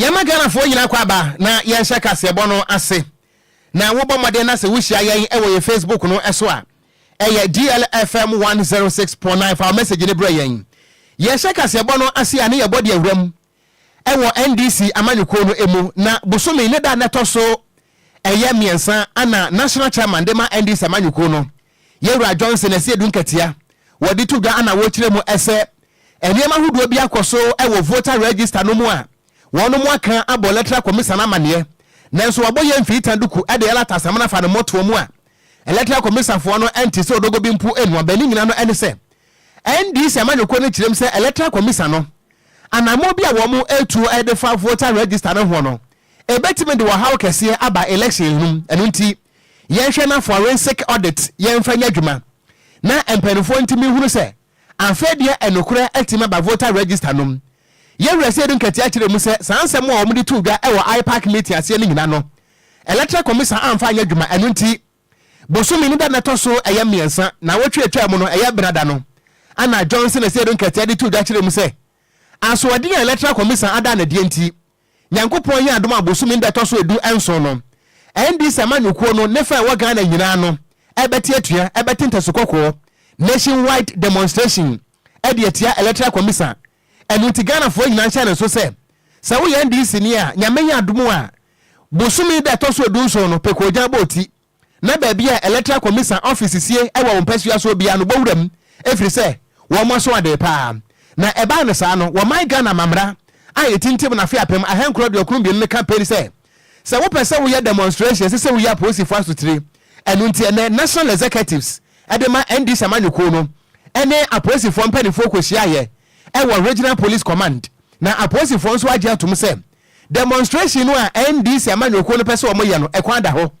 yɛma ghanafoɔ nyinaa kɔ aba na yɛnhyɛ kaseɛbɔ no ase na wobɔ mmɔden na sɛ wohyia yɛn wɔ yɛn facebook no so a Ɛyɛ DLFM one zero six point nine fa wo message no brɛ yɛn. Yɛhyɛ kaseɛbɔ no ase a ne yɛbɔ de awura mu wɔ NDC amanyɔkuo no mu na bosome ne da a na ɛtɔ so ɛyɛ mmiɛnsa ana National Chairman de ma NDC amanyɔkuo no Yɛwura Johnson Asiedu Nkatia wɔde to dwa ana wɔkyerɛ mu sɛ nneɛma ahodoɔ bi akɔ so wɔ voter register no mu a Wɔn mo aka abɔ lɛtra kɔmisa no amaneɛ nanso wabɔ yɛ mfiita duku ɛde ɛla tasamena afa ne mɔtoɔ mu a ɛlɛtra kɔmisa foɔ no ɛnte sɛ odogo bi mpo ɛnua bɛ ne nyina no ɛne sɛ NDC amanyɔkuo no kyerɛm sɛ ɛlɛtra kɔmisa no anamɔ bi a wɔn mo ɛtuo ɛde fa voter register no hoɔ no ɛbɛtumi de ɔhaw kɛseɛ aba election no mu ɛno nti yɛnhwɛ na forensic audit yɛnfa nyɛ adwuma na mpaninfoɔ ntumi nhunu sɛ Afei deɛ ɛnokorɛ atumi aba voter register nom. Yɛ werɛsɛ du nkatia kyerɛ mu sɛ saa nsɛm a wɔde too dwa wɔ IPAC meeting aseɛ no nyina no Electoral Commission amfa anyɛ adwuma ɛno nti bosome no da no ɛtɔ so ɛyɛ mmiɛnsa naawɔtwe atwaa mu no ɛyɛ bena da no Anna Johnson Asiedu nkatia de too dwa kyerɛ mu sɛ asoɔden a Electoral Commission ada no ɛdeɛ nti Nyankopɔn yɛɛ adom a bosome da ɛtɔso edu nson no NDC amanyɔkuo no ne fa ɛwɔ Ghana nyinaa no ɛbɛte atua ɛbɛte ntasu kɔkɔɔ, Nation wide demonstration, ɛde atia Electoral Commisa ɛno nti Ghanafoɔ nyinaa nhyɛ ne nso sɛ sɛ woyɛ NDC ni a Nyame yɛ adom a bosome da ɛtɔso edu nson no pɛ kɔɔgyan bɔ oti na baabi a Electoral Commisan ɔfese sie wɔ wo mpasua soɔ biara no bɔ wura mu ɛfiri sɛ wɔn aso adee pa ara. Na ɛbaa no saa no wɔman Ghana mammara a ɛtintim no afe apem ahankorɔ aduokron mmienu no ka peri sɛ sɛ wopɛ sɛ woyɛ demonstration ɛsɛ sɛ woyi apolisifoɔ asotire ɛno nti ɛnɛ National Executives de ma NDC amanyɔkuo no ɛne apolisifoɔ mpaninfoɔ kɔhyiaeɛ ɛwɔ Regional Police Command na apolisifoɔ nso agye atom sɛ Demonstration no a NDC amanyɔkuo no pɛ sɛ wɔyɛ no, ɛkwan da hɔ.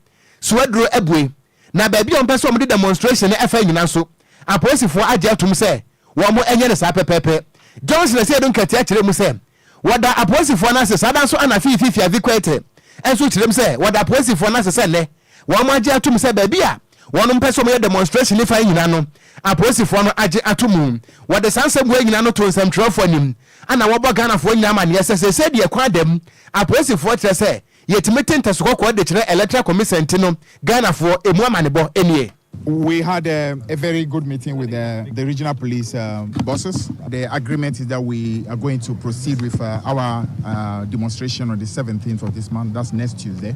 Suaduro abue. Na baabi a wɔpɛ sɛ wɔde demonstration no fa nyina nso, apolisifoɔ agye atom sɛ wɔnyɛ no saa pɛpɛɛpɛ. Johnson Asiedu Nketiah kyerɛɛ mu sɛ wɔda apolisifoɔ no ase saa da nso ɛna afei Fifi Avi Quaiteh nso kyerɛɛ mu sɛ wɔda apolisifoɔ no ase sɛ nnɛ wɔagye atom sɛ baabi a Wɔnom mpɛ sɛ wɔyɛ demonstration ne fire nyina no apolisifoɔ no agye ato mu. Wɔde saa nsɛmbuo nyina no to nsɛmtwerɛfoɔ anim ɛna wɔbɔ Ghanafoɔ nyina amaneɛ sɛ seesei deɛ kwan da mu apolisifoɔ kyerɛ sɛ yɛtumi te ntɛso kɔkɔɔ de kyerɛ Electoral Commission nti no Ghanafoɔ ɛmu amanebɔ nie. We had a, a very good meeting with the, the regional police um, bosses. The agreement is that we are going to proceed with uh, our uh, demonstration on the 17th of this month. That's next Tuesday.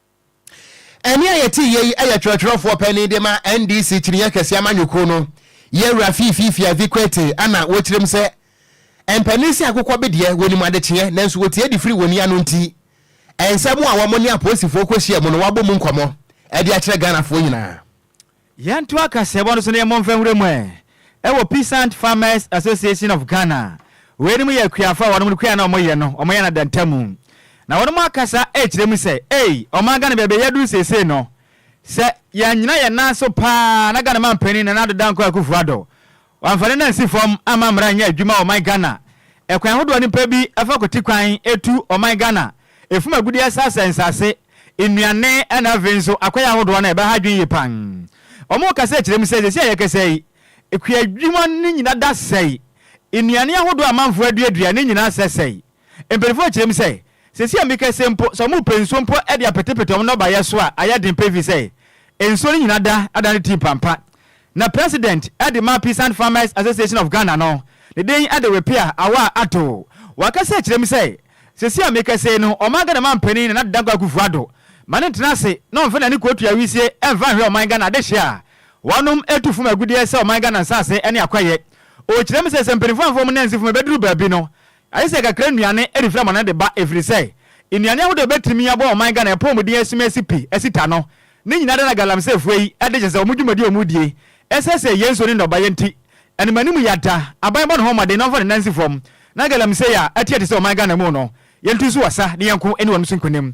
Ɛnne a yɛteeɛ yi yɛ twerɛtwerɛfoɔ panin de ma NDC Kyiniiɛ Kɛseɛ Amanyɔkuo no, Yawura Fiifi Fiavi Kwetey a na wɔkyerɛ mu sɛ mpanin sɛ akokɔ be deɛ wɔnim adekyeɛ nanso wɔtie de firi wɔn ani ano nti nsɛm a wɔne apolisifoɔ kɔhyia mu no wɔabɔ mu nkɔmmɔ de akyerɛ Ghanafoɔ nyinaa. Yɛntoa kaseɛbɔ no so na yɛmmɔ mfa nwura mu ɛ. Ɛwɔ Peasant Farmers Association of Ghana. Weinom yɛ akuafo a wɔnom no kua a na wɔyɛ no, wɔyɛ no adantamu. Na wɔnom akasa ɛrekyerɛ mu sɛ, ei, ɔman Ghana baabi a yɛaduru seesei no, sɛ yɛannyina yɛn nan so paa na Ghana manpanin Nana Addo Dankwa Akufo-Addo, Wɔamfa no no ansi fam amma mmara anyɛ adwuma wɔ ɔman Ghana. Ɛkwan ahodoɔ no pɛ bi fa kwati kwan tu ɔman Ghana, ɛfum agudeɛ sa sɛe nsase, nnuane ɛna afei nso akwan ahodoɔ no a ɛbɛha adwene yie paa. Wɔn kasa ɛkyerɛ mu sɛ seesei a yɛkasa yi, kuadwuma no nyina da sɛe, nnuane ahodoɔ a amanfoɔ aduadua no nyina asɛsɛe. Mpanyimfo kyerɛ mu sɛ, Seesei a meka sei mpo, sɛ wɔrepɛ nsuo mpo de apetepete wɔn nnɔbaeɛ so a, ayɛ den pefee sɛ nsuo no nyina da ada no ti mpampa. Na President de ma Peasant Farmers Association of Ghana no, ne din de Wepea Awaa Atto, wakasa akyerɛ mu sɛ, Seesei a meka sei no, ɔman Ghana manpanin Nana Dankwa Akufo-Addo ma no ntena ase na ɔmfa n'ani kɔtua wisie mfa nhwɛ ɔman Ghana adehyeɛ a wɔnom tu fam agudeɛ sɛ ɔman Ghana nsase ne akwayɛ. Ɔkyerɛ mu sɛ, sɛ mpanyimfo amfa wɔn nansi fam ɛbɛduru baabi no, Ayɛ sɛ kakra nnuane refiri amane de ba ɛfiri sɛ nnuane ahodoɔ a ɛbɛtumi aboa ɔman Ghana apɔmuden asum asi pi asi ta no ne nyinaa da na galamseyfoɔ yi de kyɛ sɛ wɔn dwumadie a wɔdie ɛsɛsɛɛ yɛn nsuo ne nnɔbaeɛ nti ɛnam anim yata aban bɔ ne ho mmɔden na ɔmfa ne nan nsi fam na galamsey a ɛteɛ te sɛ ɔman Ghana mu no yɛntu nso asa ne yɛnko ne wɔn so nkunim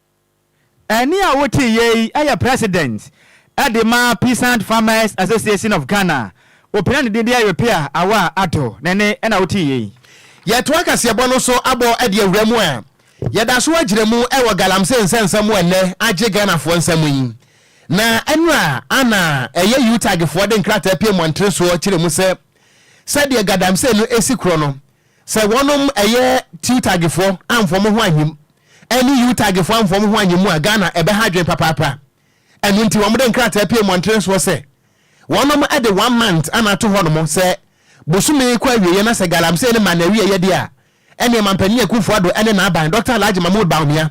Ɛnne a wotiiɛ yi yɛ President de ma Peasant Farmers Association of Ghana, opira ne din de Ayopea Awaa Addo, ne nne na wotiiɛ yi. Yɛtoa kaseɛbɔ no so abɔ de awura mu a yɛda so agyina mu wɔ Galamsey nsɛmnsɛm mu ɛnnɛ agye Ghanafoɔ nsam yi. Na ɛnora ana ɛyɛ UTAGfoɔ de nkrataa pie mmɔntene soɔ kyerɛ mu sɛ sɛdeɛ Gadamsey no si korɔ no, Sɛ wɔnom ɛyɛ Tiutagfoɔ amfa wɔn ho anyim ɛne Yutagfoɔ amfa wɔn ho anyim mu a, Ghana ɛbɛha adwene papaapa. Ɛno nti wɔde nkrataa pue mmɔntene soɔ sɛ wɔnom de one month na ato hɔnom sɛ bosome kɔ awieɛ na sɛ Galamsey no maa no awieɛ deɛ a, ɛneɛ Mampanin Akufo-Addo ɛne n'aban, Doctor Alhaji Mahmood Bawumia,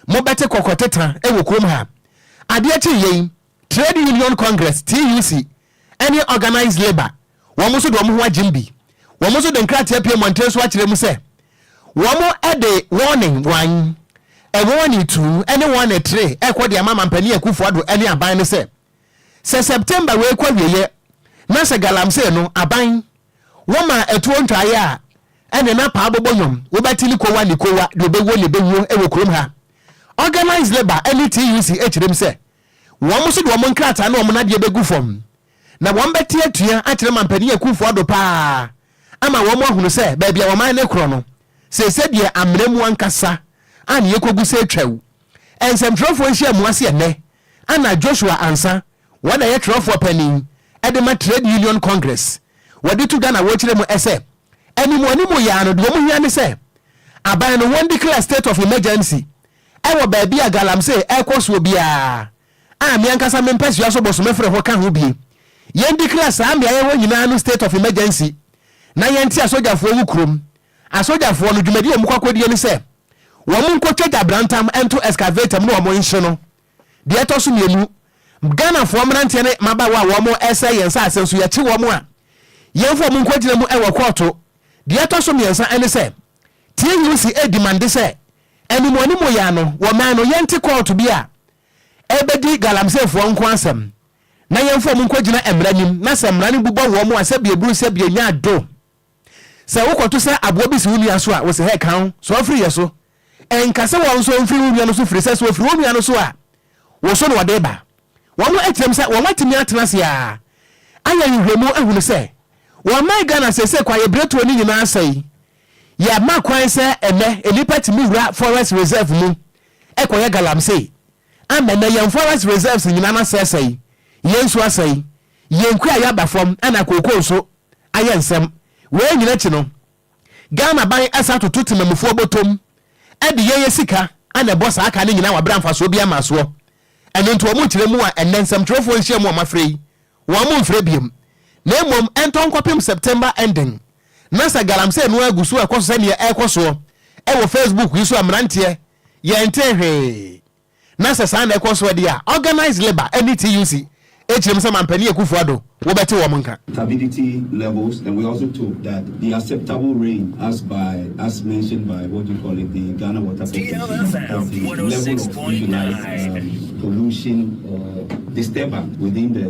mobɛte kɔkɔteta wɔ kurom ha. Adeɛ kyeeɛ yi, Trade Union Congress, TUC, ne Organised Labour, wɔn nso de wɔn ho agyem bi. Wɔn nso de nkrataa apue mmɔnten so akyerɛ mu sɛ wɔde warning, wan, warning tu ne warning tre rekɔ de ama Mampanin Akufo Addo ne aban no sɛ, sɛ September wei kɔ awieɛ na sɛ Galamsey no aban wɔmaa atuo ntwaeɛ a ɛne na paa bɔbɔ nnwom wobɛte ne kowa ne kowa deɛ ɔbɛwuo na ɛbɛwuo wɔ kurom ha. Organised Labour ne TUC kyerɛ mu sɛ, Wɔn nso de wɔn nkrataa ne wɔn adeɛ bɛgu fam, na wɔbɛte atua akyerɛ mampanin akumfoɔ do pa ara ama wɔahunu sɛ baabi a wɔman no korɔ no, seesei deɛ amena mu ankasa a ne yɛkɔgu sɛ atwam. Nsɛmtwerɛfoɔ nhyiamu ase ɛnnɛ, Anna Joshua Ansa, wɔn na ɛyɛ twerɛfoɔ panin de ma Trade Union Congress, wɔde to dwa na wɔkyerɛ mu sɛ, Animuanimu yi ara no, deɛ wɔhia ne sɛ aban no wɔn declare state of emergency wɔ baabi a galamsey rekɔ soɔ biara a me ankasa me mpasua so bosome fere ho ka ho bie. Yɛn dikira saa mmeaeɛ hɔ nyinaa no state of emergency na yɛn nte asogyafoɔ wo kurom. Asogyafoɔ no dwumadie a wɔn kɔ akɔdie ne sɛ wɔn nkɔ twa gyabrantam nto excavator mu na wɔn nhye no. Deɛ ɛtɔ so mmienu, Ghanafoɔ mmeranteɛ ne mmabaawa a wɔn resɛe yɛn nsaase nso yɛkye wɔn a yɛn mfa wɔn nkɔgyina mu wɔ kɔɔto. Deɛ ɛtɔ so mmiɛnsa ne sɛ TUC redemande sɛ Anim anim yɛ ano wɔ mɛn no yɛnte kɔɔto bi a ɛrebɛdi galamseyfoɔ nko asɛm na yɛmfa wɔn nkɔgyina mmara anim na sɛ mmara no bu bɔ wɔn a sɛbi ɛburu sɛbi ɛnya do sɛ wokɔto sa aboa bi si wo nua so a wose hɛ ka wo so afiri yɛ so ɛnka sɛ wɔn nso mfiri wo nua no so firi sɛ sɛ wɔfiri wo nua no so a wo so na wɔde ba wɔn atirem sɛ wɔn atumi atena ase a ayɛ nhwehwɛmu ahunu sɛ wɔn mɛn Ghana seesei kɔ ayɛ biretuo ne nyinaa sɛe Yɛama kwan sɛ ɛnnɛ nnipa tumi wura Forest Reserve mu kɔyɛ galamsey. Ama ɛnnɛ yɛn Forest Reserves nyinaa no asɛesɛe, yɛn nsu asɛe, yɛn kuayɛ aba fam na kooko nso ayɛ nsɛm. Wei nyinaa akyi no, Ghanaban san atoto temamufoɔ bɔtɔm de yɛyɛ sika na ɛbɔ saa ka no nyinaa wɔ berɛ a mfasoɔ biara mmaa soɔ. Ɛno nti wɔkyerɛ mu a ɛnnɛ nsɛmtwerɛfoɔ nhyiamu a wɔafrɛ yi, wɔmfrɛ biom na mmom ɛntɔ nkɔpem September ending. na sɛ galamsey no ara gu so rekɔ so sɛ nea ɛrekɔ soɔ wɔ Facebook yi so a mmeranteɛ yɛntee hwee, na sɛ saa na ɛkɔ soɔ deɛ a, Organised Labour ne TUC kyerɛ mu sɛ Mampanin Akuffo Addo wobɛte wɔn nka. turbidity levels and we also took that the acceptable rain as by as mentioned by what do you call it the Ghana Water Corporation is the level of visualized um, pollution or disturbance within the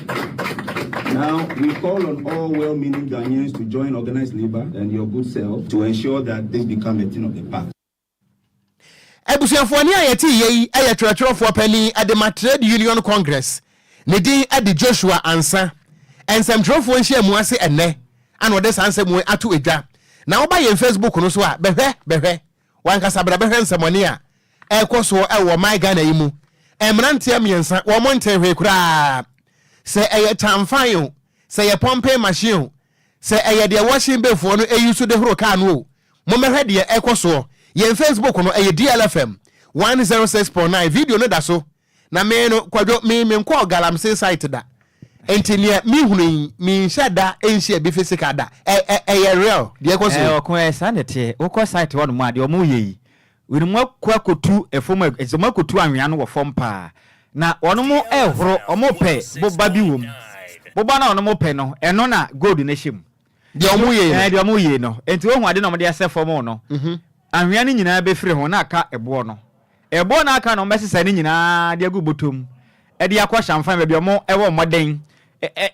Now we call on all well meaning Ghanaians to join organised labour and your good self to ensure that this become a thing of the past. Abusuafoɔ, nea yɛtee yei yɛ twerɛtwerɛfoɔ panin de ma Trade Union Congress, ne din de Joshua Ansah. Nsɛmtwerɛfoɔ nhyiamu ase ɛnnɛ na ɔde saa nsɛm wei ato dwa. Na woba yɛn Facebook no so a, bɛhwɛ, bɛhwɛ. W'ankasa bra bɛhwɛ nsɛmɔne a ɛrekɔ so wɔ ɔman Ghana yi mu. Mmeranteɛ mmiɛnsa, wɔn ntee hwee koraa. Sɛ ɛyɛ kyanfan o, sɛ ɛyɛ pɔmpen machine o, sɛ ɛyɛ deɛ wɔhye befoɔ no yi so de horo kaa no o, mommɛhwɛ deɛ ɛrekɔ soɔ. Yɛn Facebook no, ɛyɛ DLFM one zero six point nine. Video no da so Na me no, Kwadwo, me menkɔɔ Galamsey site da, nti neɛ me hunu yi, me nhyɛ da nhyia bi physical da, ɛ ɛ ɛyɛ real deɛ ɛkɔ so yi? Ɔko, ɛɛ saa na ɛteɛ, wokɔ site hɔ nom a, deɛ wɔn yɛ yi, wini wɔn akɔ akɔtu ɛfam, ɛfisɛ wɔn akɔtu anwea no wɔ fam paa, na wɔn rehoro, wɔn repɛ boba bi wɔ mu, boba no a wɔn repɛ no, ɛno na gold no hyɛ mu, deɛ ɔmo yei no ɛɛ deɛ ɔmo yei no enti wohu ade na ɔmo de asɛ fam no mhm. anwea no nyinaa bɛfiri ho na aka ɛboɔ no ɛboɔ na aka no ɔmo bɛsesa ne nyinaa de agu bɔtɔ mu ɛde akɔ hyɛnfan baabi ɔmo ɛwɔ mmɔden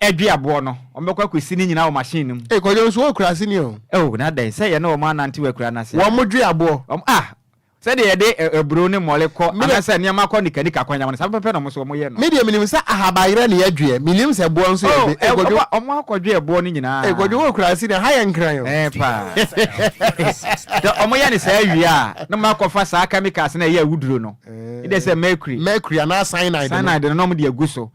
ɛdwe aboɔ no ɔmo bɛkɔ akɔsi ne nyinaa wɔ machine no mu. ee kɔjɔ nso wɔ kurase ni o. ɛwɔ na dɛn sɛ yɛn na wɔn anante wɔ akura n'ase. wɔn mo dwe aboɔ. wɔn a Sɛdeɛ yɛde aburoo ne mmɔre kɔ anaasɛ nneɛma kɔ nikanika kwan no, saa pɛpɛpɛ na wɔn nso wɔyɛ no. Me deɛ menim sɛ ahaba yerɛ na yɛdweɛ, mennim sɛ boɔ nso yɛdwe. Oh, Ɛɛ, Ɛkɔdwo, wɔn akɔdweɛ boɔ no nyinaa. Ɛkɔdwo wɔ kurase deɛ, ha yɛ nkran o. Ɛɛ paa. Sɛ wɔyɛ no saa wie a, na wɔn akɔfa saa chemicals no a ɛyɛ awuduro no, ɛdɛ sɛ mercury. Mercury anaa cyanide no. Cyanide no na wɔn de agu so.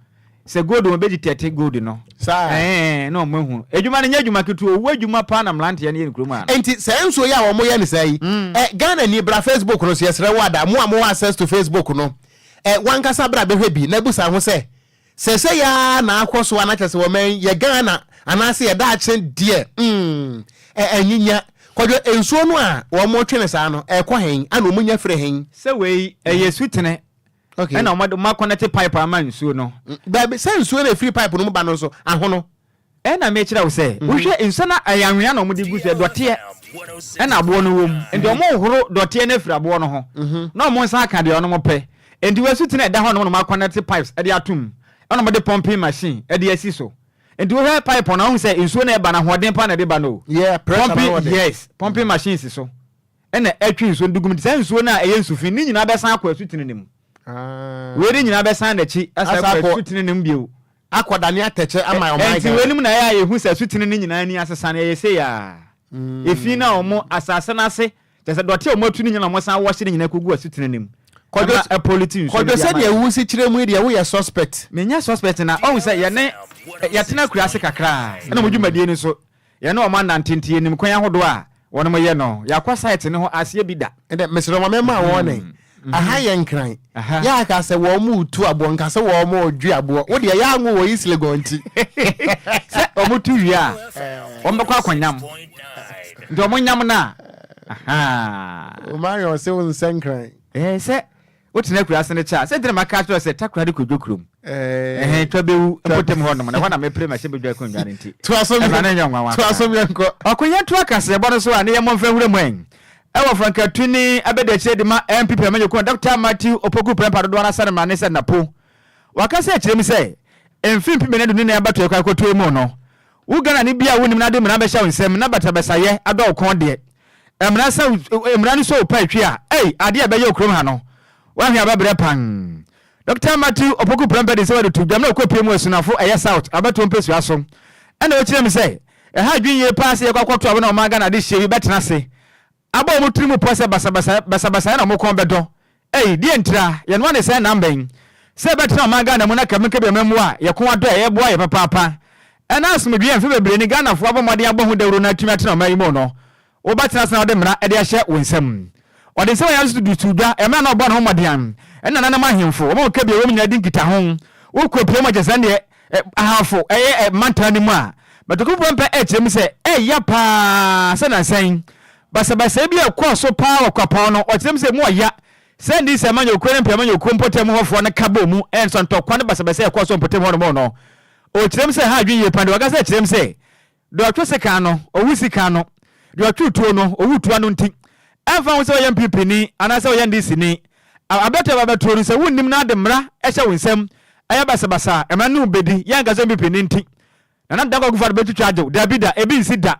Sɛ gold wɔn bɛgye tɛte gold no. Saa. Ɛɛ na wɔn ahu. Adwuma no nyɛ adwuma ketewa owu adwuma paa na mmeranteɛ no yɛ no kurom ha no. Nti saa nsuo yi a wɔn yɛ no saa yi, mm. ɛ Ghana ni bra Facebook no so yɛsrɛ wo ada mo a mo wɔ access to Facebook no ɛ wankasa bra bɛhwɛ bi na busa ho sɛ sɛ sɛ yaa na akɔ so anakyɛ sɛ wɔn yɛ Ghana anaasɛ yɛ daakye deɛ mm ɛ anyinya kɔdwo nsuo no a wɔn twe no saa no ɛkɔ hɛn ana wɔn nya firi hɛn. Sɛ wei ɛyɛ sutene. Okay. Ɛna ɔmo ɔmo akɔnɛte pipe ama nsuo no. Baabi sɛ nsuo na efiri pipe no mu ba no nso ahono. Ɛna mekyerɛ wo sɛ Mhm. wohwɛ nsuo na ɛyɛ anwea na ɔmo de gu so yɛ dɔteɛ ɛna aboɔ no wom nti Mhm. ɔmo horo dɔteɛ no afiri aboɔ no ho Mhm. na ɔmo nsa aka deɛ ɔnom pɛ nti wɔ asuten a ɛda hɔ nom na ɔmo akɔnɛte pipes ɛde atom ɛna ɔmo de pumping machine ɛde asi so nti wohwɛ pipe no ahu sɛ nsuo na ɛba no ahoɔden paa na ɛde ba no o Yeah, pressure na pumping ɔwɔ de. yes pumping machine si so Ɛnna ɛtwe nsuo no de gu mu nti, saa nsuo no a ɛyɛ nsu fi no nyinaa bɛsan akɔ asutene no mu. Wei de nyinaa bɛsan n'akyi asan akɔ asutene no mu bio. Akɔdane atɛkyɛ ama ɔman Ghana. Enti weinom na ɛyɛ a yɛhu sɛ asutene no nyinaa ani asesa no, ɛyɛ sei ara. Efi no a wɔn, asase no ase, kyerɛ sɛ dɔte a wɔatu no nyinaa na wɔsan wɔhye no nyinaa kɔgu asutene no mu. Kwadwo, ɛma ɛpolite nsuo no de ama yɛn. Kwadwo sɛdeɛ wosi kyerɛ mu yi deɛ woyɛ suspect. Menyɛ suspect na ɔhu sɛ yɛne, yɛtena akuraase kakra a ɛna wɔn dwumadie no nso Yɛne wɔn anante nti yɛnim kwan ahodoɔ a wɔnom yɛ no. Yɛakɔ site no ho aseɛ bi da. Ɛnɛ mesrɛ mo mɛma wɔɔne. Aha yɛ nkran. Yɛ aka sɛ wɔɔmo retu aboɔ nka sɛ wɔɔmo redwe aboɔ. Wo deɛ yɛ anwo wɔ East Legon nti. Sɛ wɔɔmo tu wie a wɔn bɛkɔ akɔ nyam. Nti wɔn nyam no a. Ahaa. Omarion se wo nsɛ nkran. Ɛɛ sɛ Wotena akuraase no kyɛ a, sɛnti na maka akyerɛ wo sɛ takora de kɔdwo kurom? Ɛhɛn, twa bɛwu mpɔtam hɔnom, na ɛhɔ na mepere m'ahyɛ bɛdwa akonnwa no nti. Toa so yɛnkɔ. Ɛma no nyɛ nwanwa koraa. Toa so yɛnkɔ. Ɔko yɛntoa kaseɛbɔ no so a, na yɛmmɔ mfa nwura mu ɛ. Ɛwɔ Frankatuni abadiakyire de ma NPP amanyɔkuo no, Dɔkta Matthew Opoku Prempah dodoɔ no ara sane mmara ne sɛ Napo. Waka sɛ akyire mu sɛ, mfe mpem nnan aduonu nan abatoɛ kɔ a ɛkɔtoɔ yi mu no, wo Ghanani bi a wonnim no ade mmara bɛhyɛ wo nsam na batabasayɛ adɔ wo kɔn deɛ, Mmara sɛ wo mmara no sɛ wo paa twi a ei adeɛ a ɛbɛyɛ wo kurom ha no wahwe aba berɛ pann Dɔkta Matthew Opoku Prempeh de nsɛm adutu dwam na ɔkɔ pie mu asunafo ɛyɛ South abatoɔ mpesua so ɛna ɔkyerɛ mu sɛ ɛha adwene yie paa sɛ yɛkɔ akɔto abo na wɔn Ghana adehyeɛ bi bɛtena ase abɔ wɔn tiri mu pɔ sɛ basabasayɛ basabasayɛ na wɔn kɔn bɛdɔ Ei, deɛ ntira, yɛn mma ne saa nna mba yi, sɛ yɛbɛtena ɔman Ghana mu na kame kɛbi ɔman mu a, yɛ ko adɔ a ɛyɛ boa yɛ papaapa, ɛna asomdwee a mfe bebree ni Ghana foɔ abɔ mmɔden abɔ ho dawuro na atumi atena ɔman yi mu no, wo ba tena ase na wɔde mmara de ahyɛ wo nsam. Wɔde nsɛm a yɛn nso de too dwa, ɛmmerɛ a na wɔbɔ no ho mmɔdean, ɛne nananom ahemfo, wɔn a wɔn kɛbi a ɛwɔ mu nyinaa di nkitaho, wo kɔ pie mu a kyerɛ sɛ ɛndeɛ, ɛ, ahanfo, ɛyɛ, ɛ, mantaa no mu a, matokofoɔ mpɛ, ɛkyerɛ mu sɛ, ɛyɛ ya paa sɛ nansa yi, Basabasayɛ bi a ɛkɔɔ so paa wɔ Kwapɔn no, ɔkyerɛɛ mu sɛ emu ɔya sɛ NDC amanyɔkuo ne mpeamanyɔkuo mpɔtam hɔfoɔ no ka bɔɔ mu ɛnso ntɔkwa ne basabasayɛ a ɛkɔɔ so wɔ mpɔtam hɔnom no, ɔkyerɛɛ mu sɛ ɛha adwene yie paa deɛ ɔkasa kyerɛɛ mu sɛ deɛ ɔtwe sekan ano, ɔwu sika ano, deɛ ɔtwe tuo no, ɔwu tuo ano nti ɛmfa ho sɛ woyɛ NPP ni anaasɛ woyɛ NDC ni, abɛto ɛba bɛtoɔ no sɛ wonnim na ade mmara hyɛ wo nsam ɛyɛ basabasa a, mmara no mu bɛdi, yɛnka sɛ NPP ni nti. Nana Dankwa Akufo-Addo bɛtwitwa agye wo? Dabi da, ebi nsi da.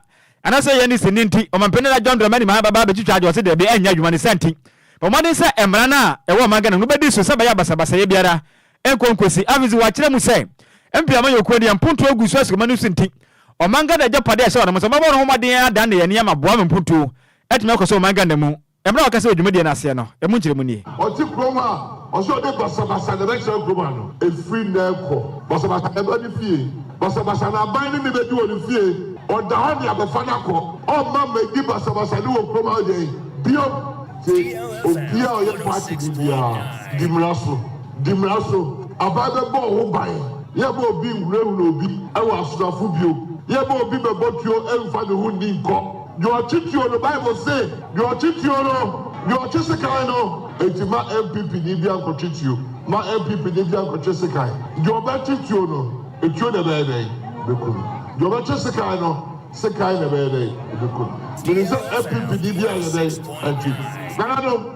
Anaasɛ yɛn ne sini nti? Ɔmanpanin Nana John Dramani Mahama bɛba abɛtwitwa agye wo? Ɔse dabi, ɛnyɛ adwuma ne sa nti. Bɔ mmɔden sɛ mmara no a ɛwɔ ɔman Ghana mu no bɛdi so sɛ ɛbɛyɛ a basabasayɛ biara nkɔ nkosi. Afei nso wɔakyerɛ mu sɛ MP Amanyo Okuo deɛ mpontuo agu so asukuma no so nti, ɔman Ghana agyapade a ɛhyɛ wɔn nsa no, wɔbɛbɔ wɔn ho mmɔden adanne yɛn nneɛma aboa ma mpontuo atumi akɔ so wɔ ɔman Ghana mu. Mmere a ɔkasa wɔ dwumadie no aseɛ no, ɛmu nkyerɛmu nie. Ɔte kurom a, ɔse ɔde basabasa na ɛbɛkyerɛ kurom ano. Ɛfiri nnɛ rekɔ, basabasa na ɛba ne fie. Basabasa na aban ne ne bɛdi wɔ ne fie. Ɔda hɔ nea bɛfa no akɔ. Ɔmma mmɛdi basabasa ne wɔ kurom ha deɛn bio. Nti obiara a ɔyɛ party ni biara, di mmara so. Di mmara so. Aban bɛbɔ wo ho ban. Yɛmma obi nwurawura obi wɔ asonafo bio. Yɛmma obi mmɛbɔ tuo mmfa ne ho nni nkɔ. Deɛ ɔtwe tuo no, Bible se, deɛ ɔtwe tuo no, deɛ ɔtwe sekan no. Enti ma NPP ni biara nkɔtwe tuo. Ma NPP ni biara nkɔtwe sekan. Deɛ ɔbɛtwe tuo no, tuo na ɛbɛyɛ dɛn? Ɛbɛku no. Deɛ ɔbɛtwe sekan no, sekan na ɛbɛyɛ dɛn? Ɛbɛku no. Menim sɛ NPP ni biara nyɛ dɛn? Ɛntwe. Nananom,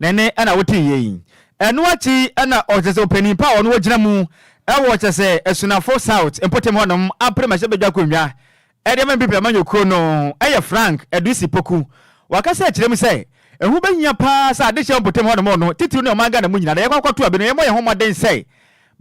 Dɛn na wotee yɛ yi? Ɛno akyi na ɔkyerɛ sɛ ɔpanin pa a ɔno ɔgyina mu wɔ kyerɛ sɛ Asunafo South mpɔtam hɔnom apere mmɛhyɛ badwa akonnwa de ama Mpipi amanyɔkuo no yɛ Frank Adusi Poku. Wakasa akyerɛ mu sɛ ɛho bɛhia paa sɛ adehyeɛ wɔ mpɔtam hɔnom no titiriw ne ɔman Ghana mu nyinaa na yɛkɔ akɔto abɛ no yɛmmɔ yɛn ho mmɔden sɛ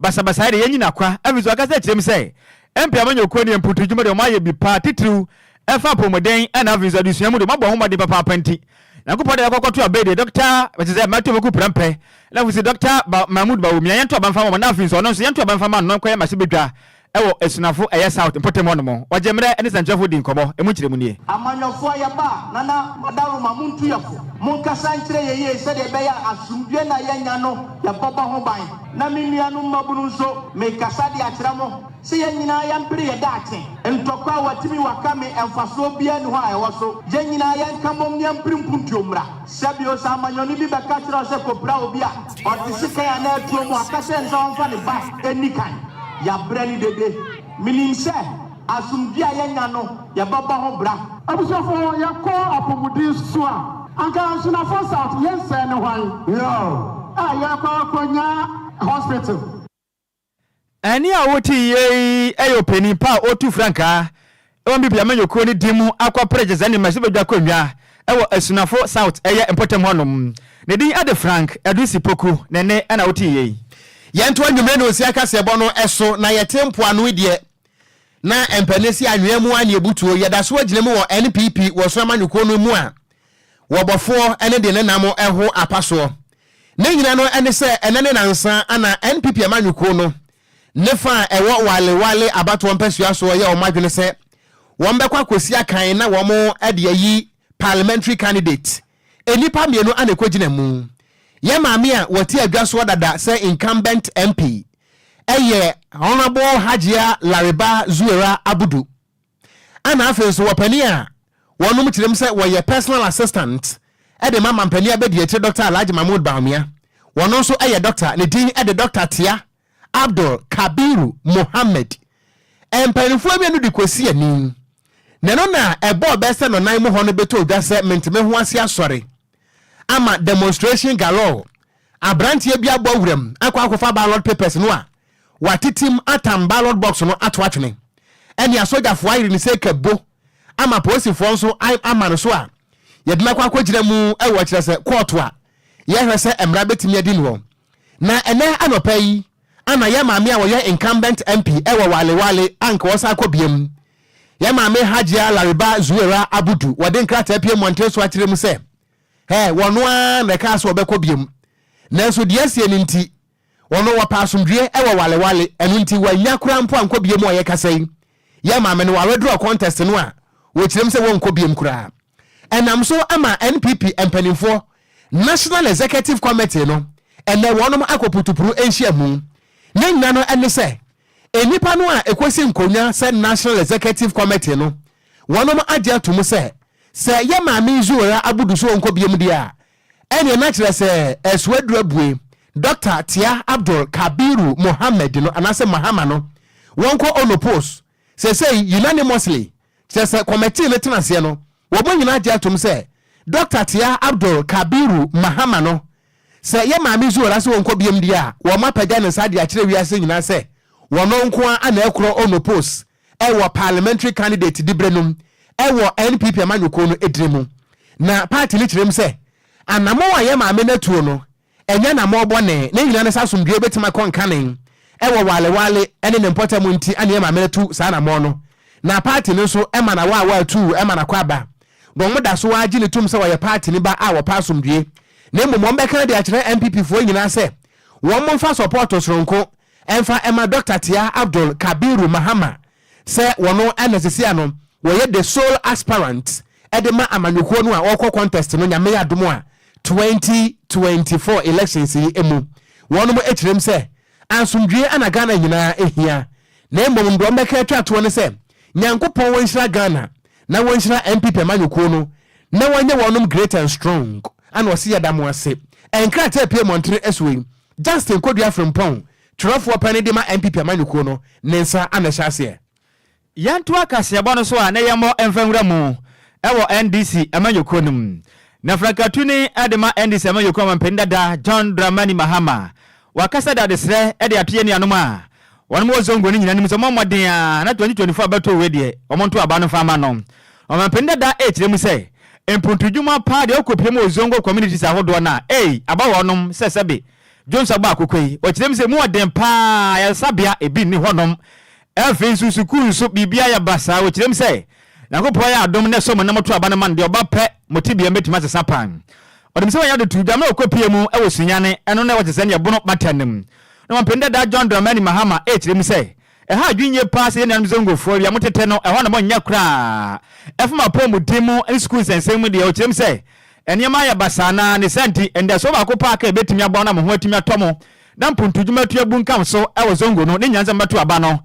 Basabasayɛ de yɛanyi no akwa. Afei nso, ɔkasa kyerɛ mu sɛ, Ɛmpɛ amanyɔkuo ne mpuutu adwuma deɛ wɔayɛ bi paa, titiriw ɛfa apɔwmuden ɛna afei nso adesua mu deɛ wɔabɔ ho mmɔden papaapa nti. Nyankopɔn de yɛakɔ akɔto aba yi deɛ Dɔkta, ɛkyerɛ sɛ matu ɔmako prɛmpɛ, na afei nso Dɔkta Ba, Mahmood Bawumia, yɛnto aba mfa ma wɔn na afei nso ɔno nso yɛnto aba mfa ma no na ɔnkɔyɛ mmarahyɛbadwa Ɛwɔ Asunafo ɛyɛ South mpɔtam hɔ nom. Ɔgye mmerɛ ne sɛnkyerɛfoɔ di nkɔmmɔ. Ɛmu nkyerɛmu nie. Amanyɔfoɔ a yɛba a, Nana Madaroma, montu yɛn fo. Monkasa nkyerɛ yɛn yie sɛdeɛ ɛbɛyɛ a asomdwoeɛ no a yɛanya no, yɛbɛbɔ ho ban. Na me nuanom mmabunu nso, merekasa de akyerɛ mo sɛ yɛn nyinaa yɛmpere yɛn daakye. Ntɔkwa a wɔatumi wɔaka me, mfasoɔ biara nni hɔ a ɛwɔ so. Yɛn nyinaa yɛnka mmom na yɛmpere mpuntuo mmra. Hyɛ bio, sɛ amanyɔni bi bɛka kyerɛ wo sɛ kɔpira obi a ɔte sekan anaa atuo mu a, ka kyerɛ no sɛ ɔmfa ne ba nni kan. Yɛabrɛ no dede. Menim sɛ asomdwoeɛ a yɛanya no, yɛbɛbɔ ho bra. Abusuafoɔ, yɛkɔ apɔmuden so a. Anka Ansunafoɔ South, yɛnsɛɛ ne hwan? Yoo, a yɛkɔ akɔnya hospital. Ɛnne a wote yi yɛ ɔpanyin pa a ɔretu frankaa wɔ Namibi amanyɔkuo no din mu akɔ pere gyesɛnee mmarahyɛbadwa akonnwa wɔ Asunafo South ɛyɛ mpɔtam hɔ nom. Ne din de Frank Edwisi Poku na ɛnne na wote yi. Yɛnto anwummere nonsia kaseɛbɔ no so na yɛte mpoano yi deɛ na ɛmpɛ ne se anwea mu ara na yɛbutuo. Yɛda so agyina mu wɔ NPP wɔ Soro amanyɔkuo no mu a Wɔ bɔfoɔ ne deɛ ne nam ho apa soɔ. Ne nyina no ne sɛ ɛnɛ ne nansa ana NPP amanyɔkuo no ne fa a ɛwɔ Wale Wale abatoɔ mpasua soɔ yɛ wɔn adwene sɛ wɔn bɛkɔ akɔsi akan na wɔn de ayi Parliamentary candidate. Nnipa mmienu ana ɛkɔgyina mu. Yɛn maame a wɔte adwa soɔ dada sɛ incumbent MP yɛ Honourable Hajia Lariba Zuwairah Abudu. Ɛna afei nso wɔpanin a wɔnom kyerɛm sɛ wɔyɛ personal assistant de ma mampanin abadiakyire Doctor Alhaji Mahmood Bawumia, wɔno nso yɛ Doctor, ne din de Doctor Tia Abdul Kabiru Mohammed. Mpaninfoɔ mmienu de Kwesi ani, na ɛno na ɛbɔɔ bɛ sɛ Nɔnan mu hɔ no bɛtɔ dwa sɛ Menteme ho ase asɔre ama demonstration galore. Aberanteɛ bi abɔ wuram akɔ akɔfa ballot papers no a watetem atam ballot box no ato atwene. Ɛnneɛ asogyafoɔ ayere ne seka bo ama apolisifoɔ nso ayɛ ama no so a yɛde no akɔ akɔgyina mu wɔ kyerɛ sɛ kɔɔto a yɛhwɛ sɛ mmara bɛtumi adi noɔ. Na ɛnnɛ anɔpa yi ana yɛn maame a ɔyɛ incumbent MP wɔ Wale Wale anka ɔresan akɔ biam. Yɛn maame Hajia Laribah Zuwairah Abudu wɔde nkrataa pue mmɔnten so akyerɛ mu sɛ Ɛ, wɔno ara na ɛkaa sɛ wɔbɛkɔ biom, nanso deɛ asie no nti, wɔno wɔpɛ asomdwoeɛ wɔ walewale, ɛno nti wɔannya koraa mpo ankɔ biom wɔ yɛkasa yi, yɛ maame no ware draw contest no a wɔkyerɛm sɛ wɔnkɔ biom koraa. Ɛnam so ama NPP mpaninfoɔ National Executive Committee no ɛnɛ wɔnom akɔ putupuru nhyiamu. Ne nyina no ɛne sɛ Nnipa no a ɛkɔsi nkonnwa sɛ National Executive Committee no, wɔnom agye atom sɛ, sɛ yɛ Maame Zuwairah Abudu so ɔnkɔ biom deɛ a, ɛneɛ na kyerɛ sɛ ɛso aduru abue, Doctor Tia Abdul Kabiru Mohammed no, anaasɛ Mahama no, wɔnkɔ Ono Post, seesei unanimously, Kyerɛ sɛ kɔmɛtee no tenaseɛ no, wɔbɔ nyinaa gye atom sɛ Dɔkta tia Abdul Kabiru Mahama no sɛ yɛ Maame Zuhra sɛ ɔnkɔ biam deɛ a, wɔn apagya ne nsa de akyerɛ wiase nyinaa sɛ wɔno nko ara na ɛkorɔ ɔno post wɔ Parliamentary candidate diberɛ nom wɔ NPP amanyɔkuo no edin mu. Na party no kyerɛm sɛ anamɔn a yɛ Maame no atuo no Ɛnyɛ anammɔn bɔne. Ne nyinaa ne sɛ asomdwoe betumi akɔ nkanen wɔ walewale ne ne mpɔtam nti na yɛn maame no atu saa anammɔn no. Na paati no nso ma n'awaawa atu ma n'akwaaba. Wɔda so ara gye no tom sɛ ɔyɛ paatini ba a ɔpɛ asomdwoe. Na mmom wɔbɛka de akyerɛ NPPfoɔ nyinaa sɛ wɔmfa sɔpɔɔto soronko mfa mma Dɔkta Tia Abdul Kabiru Mahama sɛ wɔno na sisi a no wɔyɛ the sole aspirant de ma amanyɔkuo no a ɔrekɔ contest no Nyame adom a twenty twenty four elections yi mu wɔnom kyerɛm sɛ ansomdwie ana Ghana nyinaa hia na mmom deɛ wɔbɛka atwa toɔ ne sɛ Nyankopɔn wɔnhyira Ghana na wɔnhyira NPP amanyɔkuo no na wɔnyɛ wɔnom great and strong ana ɔse yɛda mo ase nkrataa pue mɔntere soɔ yi Justin Kodua Frimpong Twerɛfoɔ panin de ma NPP amanyɔkuo no ne nsa a na ɛhyɛ aseɛ. Yɛntoa kaseɛbɔ no so a na yɛmmɔ mfa nwura mu wɔ NDC amanyɔkuo no mu. Na frankatuni de ma NDC amanyɔkuo ɔmampanin dada John Dramani Mahama wakasa de adesrɛ de ato yɛn nuanom a wɔnom wɔ Zongo no nyinaa anim sɛ wɔmmɔ mmɔden ara na 2024 abɛtoo wei deɛ wɔn nto aba no mfa mma no. Ɔmampanin dada rekyerɛ mu sɛ mpuntudwuma paa deɛ ɔkɔpie mu wɔ Zongo communities ahodoɔ no a ei aba wɔnom sɛ sɛbe Dwonsɔ baako kɔ yi, ɔkyerɛ mu sɛ emu yɛ den paa, ayaresabea, ebi nni hɔnom. Afei nso, sukuu nso, biribiara yɛ basaa. Ɔkyerɛ mu sɛ, Nyankopɔn ayɛ adom na ɛsɔ mo na moto aba no ma no deɛ, ɔba pɛ, mo tebea bɛtumi asesa paa. Ɔnim sɛ wanya dɔtodwa, na ɔrekɔpue mu wɔ Sunyani, ɛno na ɛwɔ Tanzania, Bono Bata no mu. Nokwampanyin Dada John Dramani Mahama kyerɛ mu sɛ, Ɛha adwene nye paa sɛ yɛn nuanom Zongofoɔ wia mo tetɛ no ɛhɔ na mo nyɛ koraa. Ɛfam apɔwmuden mu ne sukuu nsɛnsɛm mu deɛ ɔkyerɛ mu sɛ nneɛma ayɛ basaa na ne saa nti anidasoɔ baako paa kɛ ɛbɛtumi aboa mo na mo ho atumi atɔ mo na mpontodwuma atu abunkam so wɔ Zongo no ne nyansa mu bɛto aba no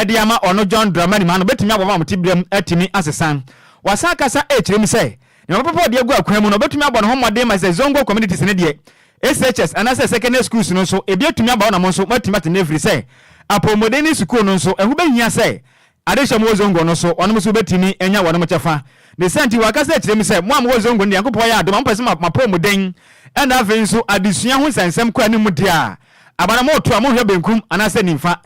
de ama ɔno John Dramani Mahama no bɛtumi aboa ma mo teberɛm atumi asesa. Wasan akasa ɛkyerɛ mu sɛ nneɛma papa ɔde agu akwan mu no ɔbɛtumi abɔ ne ho mmɔden ma sɛ Zongo communities no deɛ SHS anaasɛ Secondary Schools no nso ebi atumi aba hɔ na mo nso moatumi ate nnɛ efirisɛ apɔwmuden ne sukuu no nso ɛho bɛhia sɛ ade hyɛ mo wɔ Zongo no so wɔnom nso wobɛtumi anya wɔnom kyɛfa ne saa nti wɔakasa akyerɛ mu sɛ mo a mowɔ Zongo no deɛ Nyankopɔn ayɛ adom a mopɛ sɛ mo apɔwmuden ɛna afei nso adesua ho nsɛnsɛm kɔ anim deɛ a aba na moreto a monhwɛ benkum anaasɛ nimfa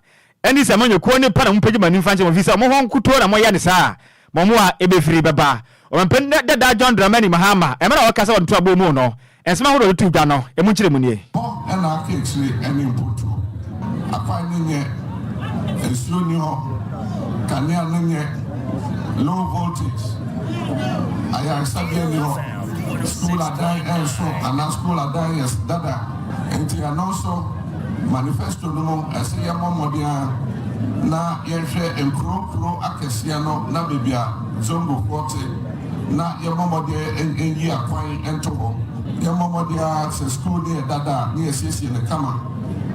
Ɛnde sɛ moanyɛ komm ne pɛ na mopagya mo ani mfa nkyerɛ wɔn ɛfiri sɛ wɔn hɔ nkutoo na moyɛ ne saa a, mo mmoa a ɛbɛfiri bɛba. Ɔmanpanin dada John Dramani Mahama, mmerɛ a ɔreka sɛ wɔde to aboɔ mu no, nsɛm ahodoɔ a ɔde too dwa no, ɛmu nkyerɛmu nie. Hɔ na aka akyire ne mpotuo. Akwan no nyɛ, nsuo nni hɔ, kanea no nyɛ, low voltage, ayaresabea nni hɔ, sukuu adan nso anaa sukuu adan yɛ dada, nti ɛno nso. Manifesto no mu ɛse yɛmmɔ mmɔden ara na yɛnhwɛ nkuro nkuro akɛseɛ no na baabi a Zongofoɔ te na yɛmmɔ mmɔden nyi akwan nto hɔ. Yɛmmɔ mmɔden ara sɛ sukuu no yɛ dada a na yɛsiesie no kama.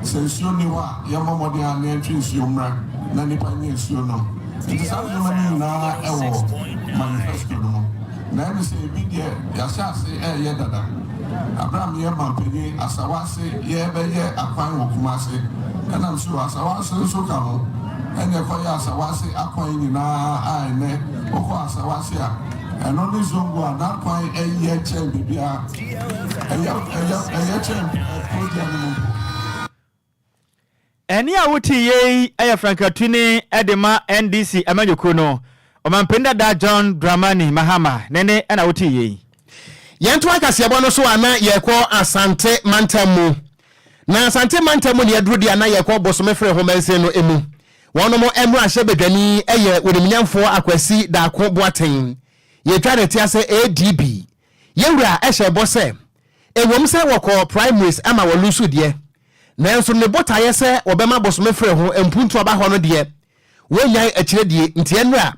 Sɛ nsuo nni hɔ a yɛmmɔ mmɔden ara na yɛntwe nsuo mmra na nnipa nyɛ nsuo nnom. Nti saa nneɛma no nyinaa wɔ manifesto no mu. Na ɛne sɛ ebi deɛ yɛahyɛ ase reyɛ dada. Berɛ a meyɛ manpanin Asawase yɛrebɛyɛ akwan wɔ Kumase, ɛna me suro Asawase nso ka ho, ɛna ɛkɔyɛɛ Asawase akwan nyinaa a ɛnnɛ wokɔ Asawase a, ɛno ne Zongo a n'akwan yɛ kyɛn biribiara, ɛyɛ kyɛn Kuroduane no mpo. Ɛnne a wote yɛ yi yɛ frankatuni de ma NDC amanyɔkuo no ɔmanpanin dada John Dramani Mahama ne nne na wote yɛ yi. Yɛntoa kaseɛbɔ no so a na yɛrekɔ Asante mantam mu. Na Asante mantam mu na yɛaduru deɛ a na yɛrekɔ Bosome Fere ho mansin no mu. Wɔnom mmarahyɛ badwani yɛ Onimnyamfoɔ Akwasi Daako Boateng. Yɛtwa ne te ase ADB Yɛn wura hyɛɛ bɔ sɛ, ɛwom sɛ wɔkɔɔ primaries ma wɔluusuu deɛ, nanso ne botaeɛ sɛ wɔbɛma bosome frɛ ho mpuntuo aba hɔ no deɛ, wɔnnyae akyire die. Nti ɛnnora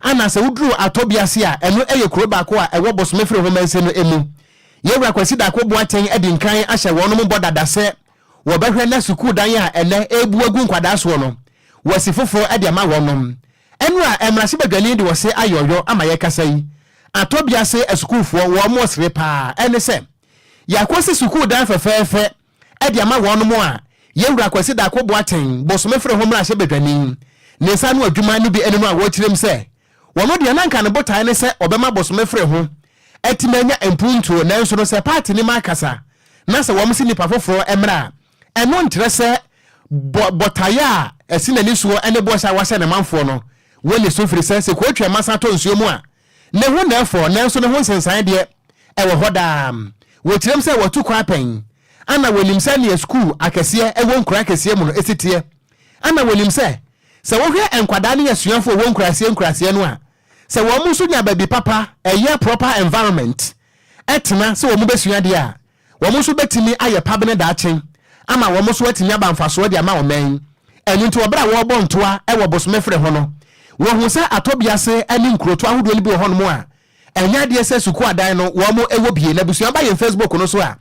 Anna sɛ woduru Atɔbi ase a, ɛno yɛ kuro baako a ɛwɔ bosome firi ho mansin no mu. Yɛn wura Kwasi Darko Boateng adi nkan ahyɛ wɔnom bɔ dada sɛ wɔbɛhwɛ na sukuu dan a ɛnnɛ ɛrebu agu nkwadaa soɔ no, wɔasi foforɔ de ama wɔnom. Ɛno a mmarahyɛbadwani de ɔse ayɛ ɔyɔ ama yɛkasa yi atɔ bea se asukuufoɔ wɔn mo sere paa ɛne sɛ yɛakosi sukuu dan fɛfɛɛfɛ de ama wɔn mo a Yɛwura Kwasi Darko Boateng bosome fere ho mmarahyɛbadwani ne nsa ano adwuma no bi ɛne no a wɔkyerem sɛ wɔn deɛ na nka ne botae ne sɛ ɔbɛma bosome fere ho atimi anya mpuntuo nanso no sɛ paati no ma akasa na sɛ wɔn se nipa foforɔ mmra a Ɛno nkyerɛ sɛ bɔ botaeɛ a ɛsi n'ani soɔ ne bɔhyɛ a wahyɛ ne manfoɔ no wɔ ne so firi sɛ, sɛ kuro twɛn ma san tɔ nsuo mu a, ne ho na ɛfɔ nanso ne ho nsensan deɛ, ɛwɔ hɔ daa. Wɔkyerɛm sɛ wɔtu kwan pɛn ana wɔnim sɛdeɛ sukuu akɛseɛ ɛwɔ nkuraa akɛseɛ mu no si teɛ ana wɔnim sɛ, sɛ wohwɛ nkwadaa ne asuafoɔ wɔ nkuraaseɛ nkuraaseɛ no a, sɛ wɔn nso nya baabi papa, ɛyɛ proper environment, tena sɛ wɔbɛsua adeɛ a, Wɔn nso bɛtumi ayɛ pabene daakye ama wɔn nso atumi aba mfasoɔ de ama ɔman yi. Ɛno nti wɔ berɛ a wɔrebɔ ntoa wɔ bosome frɛ ho no, wɔhuu sɛ Atɔbiase ne nkurotoɔ ahodoɔ no bi wɔ hɔnom a, ɛnyɛ adeɛ sɛ sukuu adan no wɔn wɔ bie. Na abusua ba yɛn Facebook no so a,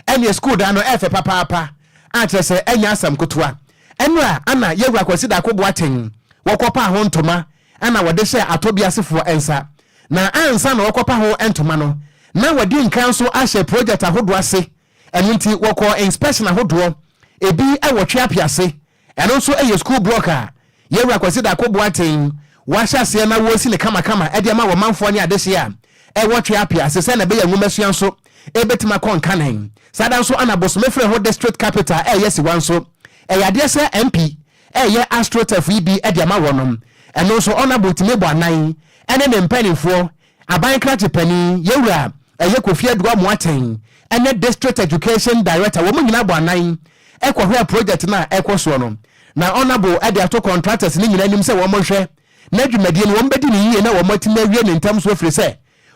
ɛnneɛ sukuu dan no ɛfɛ papaapa a kyerɛ sɛ ɛnyɛ asɛm kotoa. Ɛno a ana Yawura Kwasi Darko Boateng wɔkɔpaa ho ntoma na wɔde hyɛ atɔbiasefoɔ nsa, na ansa na wɔkɔpa ho ntoma no, na wɔadi nkan nso ahyɛ projɛt ahodoɔ ase, ɛno nti wɔkɔɔ inspɛkshyen ahodoɔ, ebi wɔ Twea Piase, ɛno nso yɛ skuul blɔk a Yɛwura Kwasi Darko Boateng wahyɛ aseɛ na wɔresi no kamakama de ama wɔ manfoɔ ne adehyeɛ a ɛwɔ Twea Piase sɛdeɛ ɛbɛyɛ a nwomasua nso bɛtumi akɔ nkanen. Saa da nso na Bosome Freho District Capital reyɛ asiwa nso, ɛyɛ adeɛ sɛ MP reyɛ astroturf yi bi de ama wɔnom. Ɛno nso Honourable Timebo Anan ne ne mpaninfoɔ, Aban krakye panin Yɛwura ɛyɛ Kofi Aduah Moateng ne District Education Director wɔn nyinaa bɔ anan kɔhwɛɛ project no a ɛrekɔ soɔ no. Na Honourable de ato contractors no nyinaa anim sɛ wɔn nhwɛ na dwumadie no wɔn bɛdi no yie na wɔn atumi awie no ntɛm so ɛfiri sɛ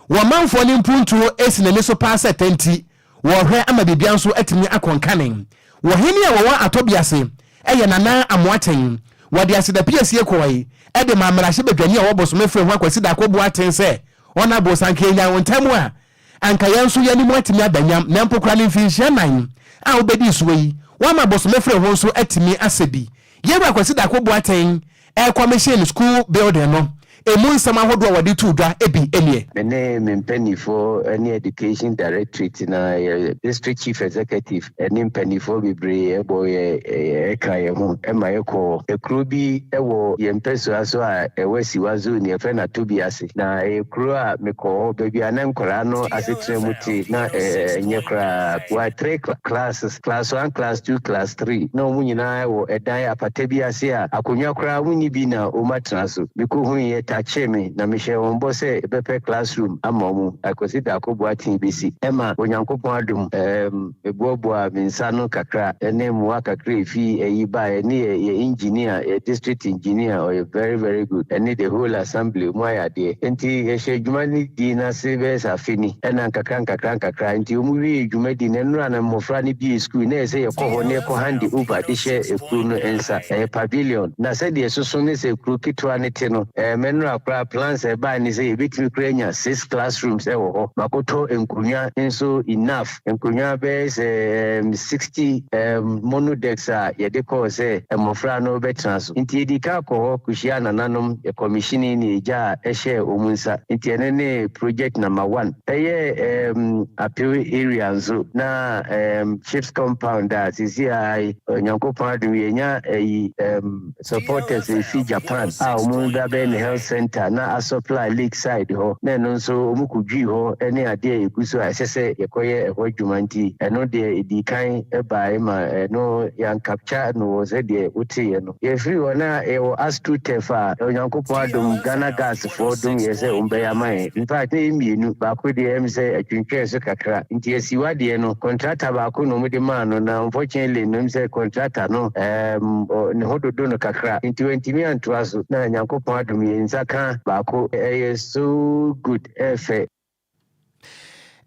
wɔmanfoɔ no mpuntuo si n'ani so paa sɛ tɛnti Wɔrehwɛ ama biribiara nso atumi akɔ nkane. Wɔ he ne wɔwɔ atɔ bi ase? Ɛyɛ Nana Amoaten. Wɔde aseda piesie kɔɔe de maa mmarahyɛ badwani a ɔwɔ bosome fre ho a Kwasi Darko bua aten sɛ, Ɔnabo sɛ anka yɛnyan wo ntɛm a, anka yɛn nso yɛn anim atumi aba nyam, na mpo koraa ne mfinhyia nan a wobedii soɔ yi, wama bosome fre ho nso atumi asɛ bi. Yɛn wura Kwasi Darko bua aten ɛrekɔmehyen school building no ɛmu nsɛm ahodoɔ a wɔde too dwa ɛbi nie. Me ne me mpaninfoɔ ɛne Education Directorate na yɛ District Chief Executive ɛne mpaninfoɔ bebree ɛbɔ yɛ ɛka yɛ ho ɛma yɛkɔɔ ɛkuro bi ɛwɔ yɛn mpɛsoa so a ɛwɔ Asiwa Zone yɛfrɛ no Atobi ase. Na ɛyɛ kuro a mekɔɔ hɔ, baabi a na nkwadaa no asetena mu te na ɛnyɛ koraa. Wɔayɛ three classes, class one, class two, class three. Na wɔn nyinaa wɔ ɛdan apata bi ase a akonnwa koraa wɔn nni bi na wɔn atena so. Mekɔhuiɛ, takyee me, na mehyɛɛ wɔn bɔ sɛ bɛpɛ classroom ama wɔn. Akwasi Darko Boateng bɛsi, ɛma Onyankopɔn adom. Meboaboaa me nsa ano kakra ne mmoa kakra a efi ayi baeɛ ne yɛ yɛ engineer, yɛ district engineer, ɔyɛ very very good, ɛne the whole assembly, wɔn ayɛ adeɛ. Enti yɛhyɛɛ dwuma no dii no ase bɛyɛ sɛ afe ni, ɛna nkakra nkakra nkakra enti wɔn wiee dwumadi no, nnora na mmɔfra no bue sukuu, na ɛyɛ sɛ yɛkɔ hɔ na yɛkɔ hande over de hyɛ kuro no nsa, ɛyɛ pavilion, na sɛdeɛ ɛsoso ne sɛ kuro ketewa no te no, ɛɛ me nnora koraa plans a ɛbaeɛ ne sɛ yɛbɛtumi koraa anya six classrooms wɔ hɔ, makɔtɔ nkonnwa nso enough. Nkonnwa bɛyɛ sɛ um, sixty um, monodecks a yɛde kɔɔ sɛ mmofra no bɛtena so. Nti yedii kan kɔɔ hɔ kohyiaa nananom, yɛkɔmihyinii ne agya a ɛhyɛɛ wɔn nsa. Nti ɛno ne project number one. Ɛyɛɛ um, Apew area nso, na um, Ships Compound a seesei ara yi, Onyankopɔn adom yi, yɛanya ayi um, Supporters a efi Japan a wɔreba bɛyɛ me health centre na asupply Lakeside hɔ na ɛno nso wɔkɔdwui hɔ ne adeɛ a ɛgu so a ɛsɛ sɛ yɛkɔyɛ ɛhɔ adwuma nti ɛno deɛ ɛdii kan baeɛ ma ɛno yɛancapture no wɔ sɛdeɛ woteeɛ no. Yɛfiri hɔ na yɛwɔ Astro-Tef a Onyankopɔn adom Ghana Gas wɔdom yɛn sɛ wɔbɛyɛ ama yɛn. Infact na yɛ mmienu, baako deɛ ɛyɛ me sɛ atwintwɛn so kakra nti asiw adeɛ no, contractor baako na wɔde maa no na unfortunately no ɛm sɛ contractor no ɛɛm ne ho dodo no kakra nti wantumi antoa so na Nyankopɔn adom yɛn nsa ka baako ɛyɛ so good ɛɛfɛ.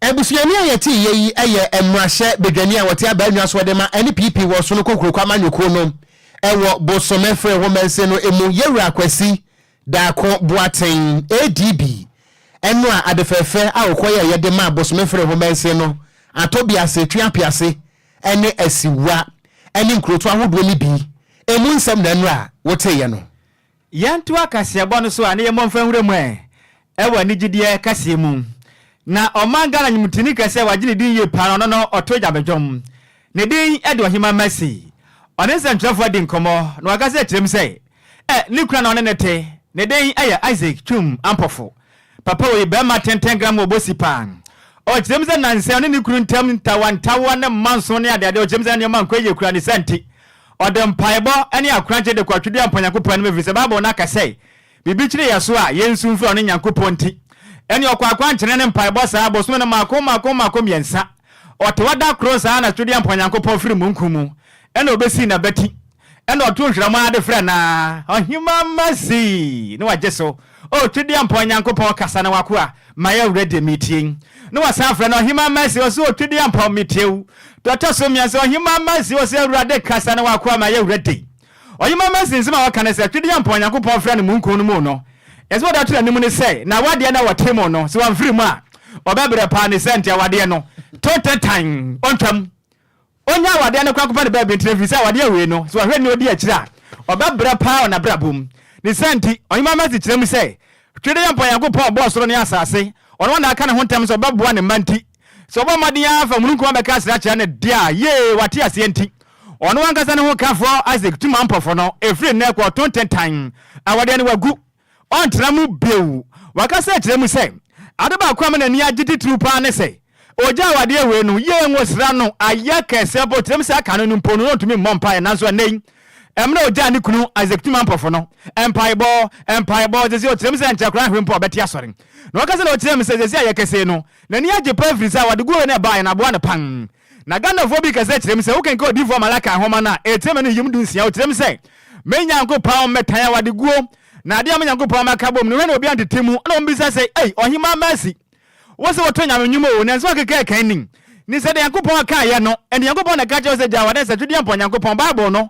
Abusuani a yɛte yɛ yi yɛ mmarahyɛ badwani a ɔte Abaa Nwasoɔ de ma ɛne PP wɔ Sono Kokroko amanyɔkuo no wɔ Bosomefre ho mansin no mu Yɛwura Kwasi Daako Boateng, ADB, ɛno a ade fɛɛfɛ a ɔkɔ yɛ yɛde ma Bosomefre ho mansin no Atɔbiase, Tweapease ɛne Asiwa ɛne nkurotoɔ ahodoɔ no bi ɛmu nsɛm na ɛno a wote yɛ no. Yɛntoa kaseɛbɔ no so a ne yɛmmɔ mfa nwura mu ɛ wɔ anigyedeɛ kaseɛ mu. Na ɔman Ghana nwomtoni kɛseɛ a wagye ne din yie paa no ɔno no ɔto Gyame dwom. Ne din de Ɔheman Mercy. Ɔne nsɛmtwerɛfoɔ adi nkɔmmɔ na wakasa akyerɛ mu sɛ ɛ ne kunu a na ɔne no te ne din yɛ Isaac Twum Ampofo. Papa ɔyɛ barima tenten gram wɔ bosi paa. Ɔkyerɛ mu sɛ nansa ɔne ne kunu ntam ntawantawa ne mmanso ne adeade a ɔkyerɛ mu sɛ na nneɛma nkɔ yie kura ne sa nti, ɔde mpaebɔ ne akorankye de kɔ Twedeɛ Mpa Nyankopɔn anim ɛfiri sɛ Bible no aka sɛ, Biribi kyere yɛ so a, yɛnsu mfrɛ ɔno Nyankopɔn nti. Ɛne ɔkɔ akwankyerɛ ne mpaebɔ saa bosome no mmaako mmaako mmaako mmiɛnsa. Ɔtewa da koro saa na Twedeɛ Mpa Nyankopɔn firi mununkum mu na ɔbɛsii n'abati. Ɛna ɔtoo nhwerɛm ara de frɛɛ no aa, Ɔhemmaa mma zii! na wagye so, O Twedeampɔn Nyankopɔn, kasa na w'akoa, my awura, deɛ meretie yi. Na wasan afrɛ no, Ɔhemmaa mma zii! ɔse, O Twedeampɔn, metie wo. Deɛ ɔtɔ so mmiɛnsa, Ɔhemmaa mma zii! ɔse, Awurade, kasa na w'akoa, my awura, die. Ɔhemmaa mma zii nsɛm a wɔka ne sɛ, Twedeampɔn Nyankopɔn refrɛ no mununkum no mu no, nsɛm a ɔde ato n'anim ne sɛ, N'awadeɛ no a wɔte mu no, sɛ wamfiri mu a, ɔbɛbrɛ paa, ne sɛ nti awadeɛ no to ntentan, ɔntwam, Ɔnnya awadeɛ no koraa kɔfa no baabi ntra ɛfiri sɛ awadeɛ awiei no, sɛ ɔhwɛ nea ɔdi akyire a, ɔbɛbrɛ paa wɔ n'abrabɔ mu. Ne saa nti, Ɔhemmaa Mercy kyerɛ mu sɛ, Tweredeɛ mpo a Nyankopɔn a ɔbɔɔ soro ne asase, ɔno a na aka ne ho ntam sɛ ɔbɛboa ne mma nti, sɛ ɔbɔ mmɔden ara fa mununkum abɛka asra akyerɛ no de a, yee, wate aseɛ nti, ɔno ankasa ne hokafoɔ, Isaac, tu ma mpɔfoɔ no, ɛfiri nnɛ rekɔ, ɔto ntentan, awadeɛ no wagu. Ɔrentra mu bio. Wakasa akyerɛ mu sɛ, Ade baako a me n'ani agye titiriw paa ne sɛ ogye awadeɛ wei no yie. Ngosra no ayɛ kɛseɛ mpo, tirim sɛ aka no no mpo no, na ɔntumi mmɔ mpaeɛ. Nanso ɛnnɛ yi, mmerɛ ɔgyaa ne kunu Isaac Tuma mpɔfo no, mpaebɔ, mpaebɔ, seesei ɔtirim sɛ nkyɛ koraa hwee mpo a ɔbɛte asɔre. Na ɔka sɛ na ɔkyerɛ me sɛ seesei ayɛ kɛse no, n'ani agye paa ɛfiri sɛ awadeguo wei no ɛbaeɛ no aboa no paa. Na Ghanafoɔ bi ka sɛ kyerɛ mu sɛ wokenkan Odiyifoɔ Malakai nwoma no a, ɛrekyerɛ m'ani nyem du nsia, ɔkyerɛ mu sɛ, Me Nyankopɔn, mmɛtan awadeguo, na adeɛ a me Nyankopɔn mmɛka bom no, hwɛ na obiara ntete mu, ɛna wɔbisa sɛ, Ei, Ɔhemaa Mercy, wose woto Nyame nnwom oo, nanso woakeka ɛkan ni, ne sɛdeɛ Nyankopɔn kaeɛ no, ɛnde Nyankopɔn na ɛka kyerɛ wo sɛ gyae w'adansatwedeɛ mpɔ Nyankopɔn, Bible no,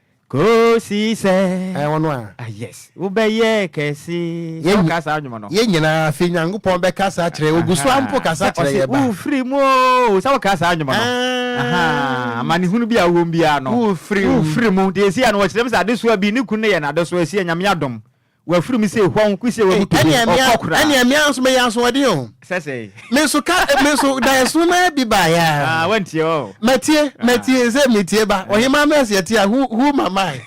Kosi sɛ. Ɛɛ ɔno a. Ah yes, wobɛyɛ kɛse. Sɛ wokaa saa nnwom no. Yɛn nyinaa afei Nyankopɔn bɛkasa akyerɛ yɛn, Ɔgu so ara mpo kasa kyerɛ yɛn ba. Sɛ ɔse wofiri mu oo, sɛ wokaa saa nnwom no. Ɛɛ. Amanehunu bi a wowɔ mu biara no. Wofiri mu. Wofiri mu. Deɛ ɛsi a no wɔkyerɛ mu sɛ adesoa bi, ne kunu no yɛ no adesoa, ɛsi a Nyame adom. Wafiri me sei hɔn kosi a wabutu me, ɔkɔ koraa. Ɛnneɛ me ara nso meyɛ asoɔden o. Sɛ sei. Me nso ka me nso da ɛsono no ara bi baeɛ ara. Ah, wantie ɔ. Matie, matie, sɛ metie ba. Ɔhemaa no ɛsɛ ɛte a, who, who am I?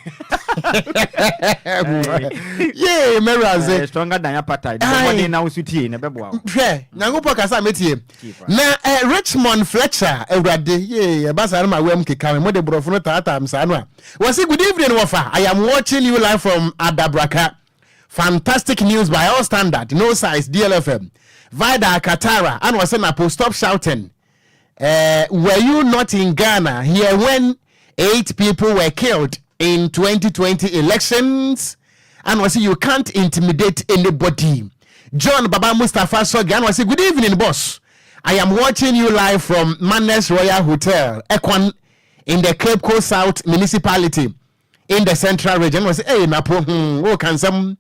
Yee, mɛwuradze. Stronger than apata. Ɛdi bɔ mɔden na wosu tie na ɛbɛboa wo. Hwɛ, Nyankopɔn kasa metie. Na Richmond Fletcher, awurade, yee, ɛba saa no ma wɛm keka me, mode borɔfo no taataa me saa no a, Wɔse good evening wɔfa I am watching you live from Adabraka fantastic news by all standard no size DLFM Vida Akatara ana ɔse Napo stop shouting eh, were you not in Ghana here when eight people were killed in 2020 elections ana ɔse you can't intimidate anybody John Baba Mustafa Sogi ana ɔse good evening boss I am watching you live from Mannes Royal Hotel Ekwan in the Cape Coast South Municipality in the Central Region. Ɛna wɔsɛ ɛyɛ napo hmm wɔ kansɛm.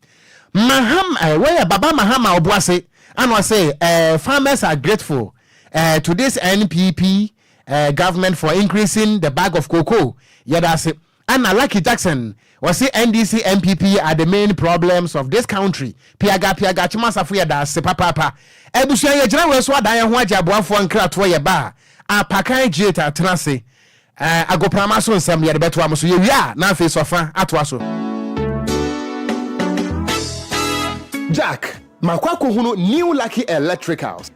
Mahama ɛɛ eh, wɔyɛ Baba Mahama Obuase. Ɛna wɔsɛ ɛɛ eh, farmers are grateful ɛɛ eh, to this NPP ɛɛ government for increasing the bag of cocoa. Yɛda ase. Ɛna Lucky Jackson Ɔse NDC NPP are the main problems of this country piaga piaga Kyema Asafo yɛdaase papaapa abusua yɛgyina wei so adan yɛho agye aboafoɔ nkratoɔ yɛba a apakan gate atena ase eh agoprama so nsɛm no yɛde bɛtoa mo so yɛwie a na afei sɔfa atoa so. Jack, makɔ akɔhunu New Lucky Electricals.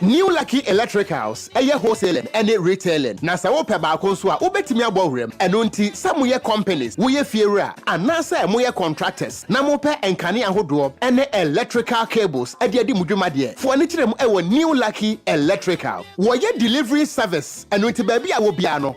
New Lucky Electricals yɛ wholesaling ne retailing, na sɛ wopɛ baako nso a, wobɛtumi abɔ wuram. Ɛno nti, sɛ moyɛ companies, woyɛ fiewura, anaasɛ moyɛ contractors na mopɛ nkanea ahodoɔ ne electrical cables de adi mo dwuma deɛ, fo ani kyerɛ mu wɔ New Lucky Electrical. Wɔyɛ delivery service, ɛno nti baabi a wɔ biara no,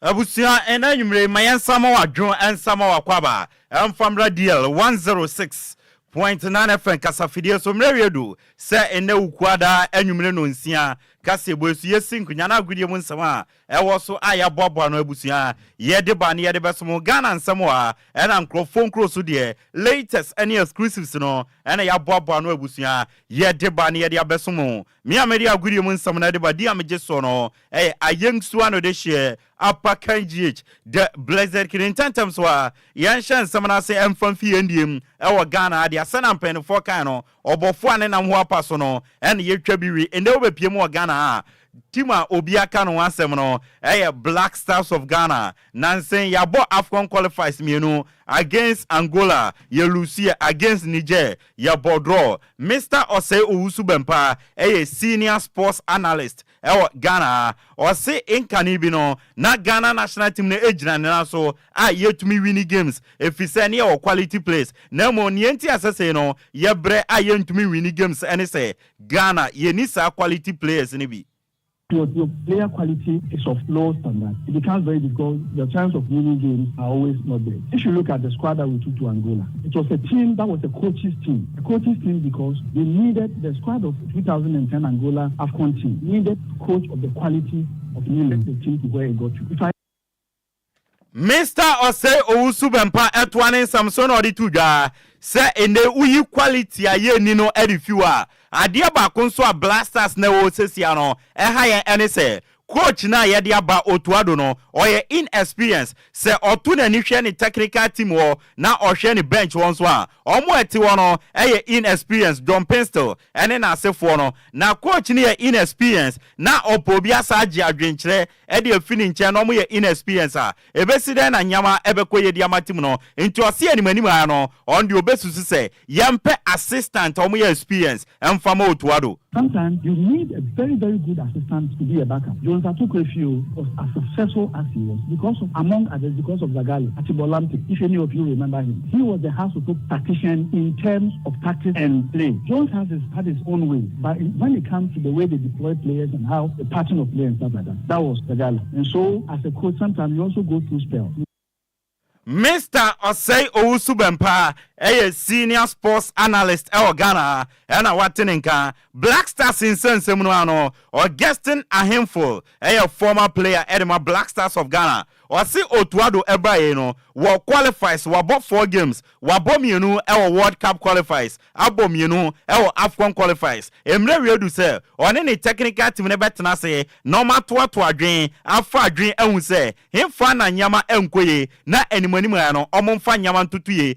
Abusua ɛnɛ anwummerɛ yi ma yɛn nsa ma w'adwene ɛnsa ma w'akwaba ɛmfa mmra DL 106.9 FM kasafidie so mmerɛ awie du sɛ ɛnɛ Wukuada anwummerɛ nɔnsia kaseɛbɔ yi so yɛsi nkonya na agodie mu nsɛm a ɛwɔ so a yɛaboaboa ano abusua yɛde ba ne yɛde bɛso mo Ghana nsɛm a ɛna nkorɔfoɔ nkuro so deɛ latest ɛne exclusives no ɛna yɛaboaboa ano abusua yɛde ba ne yɛde abɛso mo me a mede agodie mu nsɛm no ɛde ba di a megye soɔ no Ɛyɛ ayɛnsoa no de hyeɛ apa kan GH the blessed king ntɛntɛm so ara yɛnhyɛ nsɛm no ase mfa mfi yɛn deɛ mu wɔ Ghana ha deɛ sɛnea mpaninfoɔ kae no ɔbɔfoɔ a ne nam ho apa so no ɛna yɛtwa bi wie ɛnnɛ wobɛpie mu wɔ Ghana ha a team a obiara ka ne ho asɛm no ɛyɛ Black Stars of Ghana nansen yɛabɔ Afcon qualifies mmienu against Angola yɛ lusuiɛ against Niger yɛbɔ draw Mister Osei Owusu-Bempah ɛyɛ senior sports analyst wɔ Ghana ha. Ɔse nkane bi no na Ghana national team no gyina ne nan so a yɛtumi wini games efisɛ ne yɛwɔ quality players na mmom neɛ nti a sɛsei no yɛbrɛ a yɛntumi nwini games ne sɛ Ghana yɛnni saa quality players no bi. Your player quality is of low standard, it becomes very difficult, your chance of winning games are always not there. If you look at the squad that we took to Angola, it was a team that was a coach's team, a coach's team because we needed the squad of. Two thousand and ten Angola Afcon team needed coach of the quality of me led the team to where it got to. If I. Mister Osei Owusu Bempah ɛtoa ne nsɛm so na ɔde to dwa sɛ nnɛ woyi quality a yɛnni no de fi hɔ a, adeɛ baako nso a Blasters na ɛwɔ sesia no ɛha yɛn ɛne sɛ Coach no a yɛde aba otu ado no, ɔyɛ inexperienced. Sɛ ɔto n'ani hwɛ ne technical team hɔ na ɔhwɛ ne bench hɔ nso a, wɔn a ɛte hɔ no yɛ inexperienced, John Pinstel ne n'asefoɔ no. Na coach no yɛ inexperienced na ɔpɛ obi asan agye adwenkyerɛ de afi ne nkyɛn na wɔyɛ inexperienced a, Ebesi dɛn na nyɛma ɛbɛkɔ yɛ di ama tim no nti ɔse anim anim aa no ɔn deɛ ɔbɛsusu sɛ yɛmpɛ assistant a ɔmo yɛ experience ɛnfa ma otua do. Sometimes you need a very very good assistant to be a back up, Jones Atokwe Fio was as successful as he was because of among others because of Zaghale Atibor Lamptey if any of you remember him, he was the house oto tactician in terms of tactics and play, Jones has his had his own way but when it comes to the way they deploy players and how the pattern of play and stuff like that. That was the gala nso as a coach sometimes you also go through spell. Mister Osei Owusu Bempah yɛ Senior Sports Analyst wɔ Ghana na wate ne nka. Black Stars nsɛnsɛm no ano, Augustine Ahenful yɛ former player de ma Black Stars of Ghana. Ɔse otua do bae no wɔ qualifies wabɔ four games, wabɔ mmienu wɔ world cup qualifies, abɔ mmienu wɔ Afcon qualifies. Mmerɛ wiedu sɛ ɔne ne technical team no bɛtena ase na wɔatoato adwene afa adwene ahu sɛ he fa na nneɛma nkɔ yie na animanimu ara no wɔmfa nneɛma ntoto yie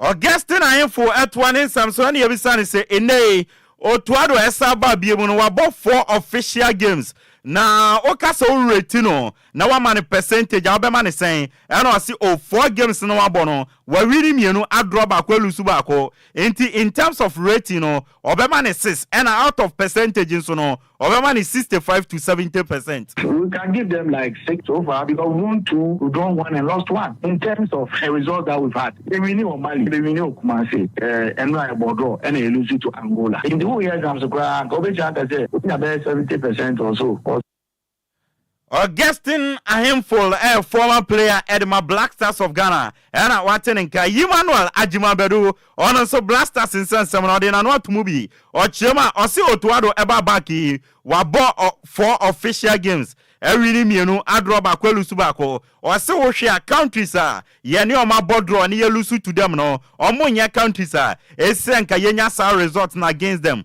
Augustine ahemfo toa ne nsɛm so na yɛbisa no sɛ ɛnnɛ yi ɔtoa do a ɛsan baa biom no wabɔ four official games na woka sɛ wo werɛ ti no na wama no percentage a wobɛma no sɛn ɛna ɔse oh four games no wabɔ no wawini mmienu adraw baako alusu baako nti in terms of rating no ɔbɛma no six ɛna out of percentage nso no Ɔbɛma no sixty five to seventy percent. We can give them like six so far because won two, we drawn one and lost one in terms of the results that we've had. Yɛ winni wɔ Mali, yɛ bɛ winni wɔ Kumasi, eh, ɛnora yɛ bɔɔ draw ɛna yɛ lose to Angola. Nti wo yɛ exams koraa anka wobɛtumi aka sɛ wonya bɛyɛ seventy percent or so. Augustine Ahenful yɛ former player de ma Black Stars of Ghana na wate ne nka. Yimmanuel Agyimah Badu, ɔno nso Black Stars nsɛnsɛm no ɔde n'ano ato mu bi. Ɔkyerɛ mu a, ɔse Otuado ba back yi, wabɔ four official games, awini mmienu, adraw baako, alusu baako. Ɔse wohwɛ a, countries a yɛne wɔn abɔ draw ne yɛlusu to them no, wɔnyɛ countries a ɛsɛ sɛ anka yɛnya saa result no against them.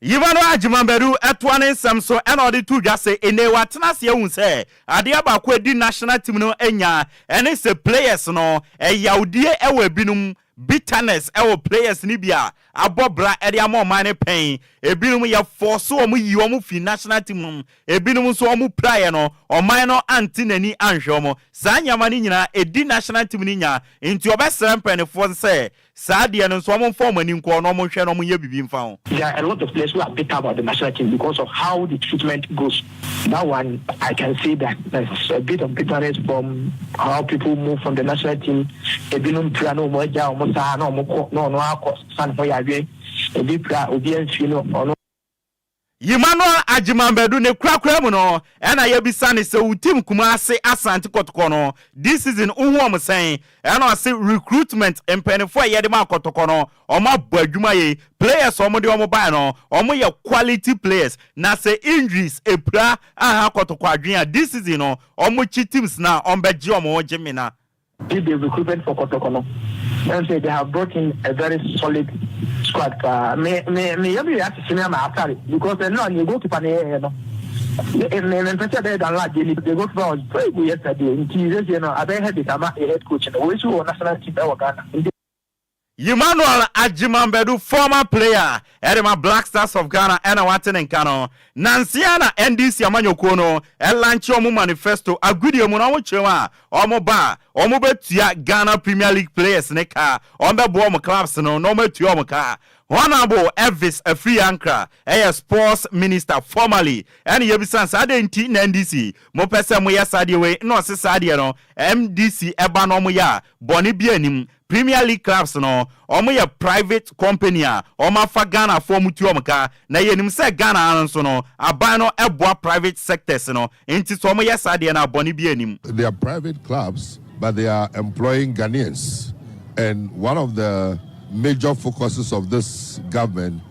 Yvonne Agyemang-Badu toa ne nsɛm so na ɔde to dwa sɛ, Nnɛ yi, wɔatena ase ahu sɛ adeɛ baako a ɛdi national team no nya ne sɛ players no yawdie wɔ ebinom, bitterness wɔ players no bi a abɔ bra de ama ɔman no pɛn, ebinom yɛfɔɔse wɔn yii wɔn fii national team no mu, ebinom nso wɔn piraeɛ no ɔman no ante n'ani anhwɛ wɔn. Saa nneɛma no nyinaa ɛdi national team no nya nti ɔbɛsrɛ mpaninfoɔ no sɛ Saa deɛ no nso ɔmo nfa ɔmo ani nkɔ na ɔmo nhwɛ na ɔmo nyɛ biribi nfa ho. There are a lot of players who are bitter about the Mashina team because of how the treatment goes. That one I can say that there's a bit of bitterness from how people move from the national team. Ebinom pira na ɔmo agya ɔmo saa na ɔmo kɔ na ɔno akɔ sa ne ho yareɛ. Ebi pira obi amfie na ɔno. Emmanuel Agyeman-Badu ne korakora mu no ɛna yɛbisa no sɛ wo team Kumase Asante Kɔtɔkɔ no this season wohu wɔn sɛn ɛna ɔse recruitment mpaninfoɔ a yɛde maa Kɔtɔkɔ no wɔn abɔ adwuma yie players a wɔde wɔn baeɛ no wɔn yɛ quality players na sɛ injuries ɛpira anha Kɔtɔkɔ adwene a this season no wɔn kyi teams no a wɔn bɛgye wɔn gye mena Did the recruitment for Kotoko no and say they have brought in a very solid squad paa me me me yɛ me yɛ asese me ama atare because ɛno a ne goalkeeper ne yɛyɛ no me me mpɛ sɛ ɛbɛyɛ dan lad yɛ ni the goalkeeper was very good yesterday nti sɛsɛ no abɛyɛ headache ama yɛ head coach no wɔsi wɔ national team ɛwɔ Ghana nti Emmanuel Agyemang-Badu, former player de ma Black Stars of Ghana na wate ne nka no. Nnansa yi ara na NDC amanyɔkuo no lankye wɔn manifesto agodie mu na wɔkyerɛm a wɔba a wɔbɛtua Ghana Premier League players no ka, wɔbɛboa wɔn clubs no na wɔatua wɔn ka. Honourable Elvis Afriyie Ankrah yɛ Sports Minister formerly na yɛbisa no sɛ adɛn nti na NDC mopɛ sɛ moyɛ saa adeɛ wei na ɔse saa adeɛ no NDC ba na wɔyɛ a bɔne biara nnim. Premier League clubs no, wɔn yɛ private company a wɔn afa Ghana foɔ wɔn tu wɔn ka, na yɛ nim sɛ Ghana ha no nso no, aban no boa private sectors no, nti sɛ wɔn yɛ saa deɛ no a bɔne biara nnim. They are private clubs but they are employing Ghanaians and one of the major focuses of this government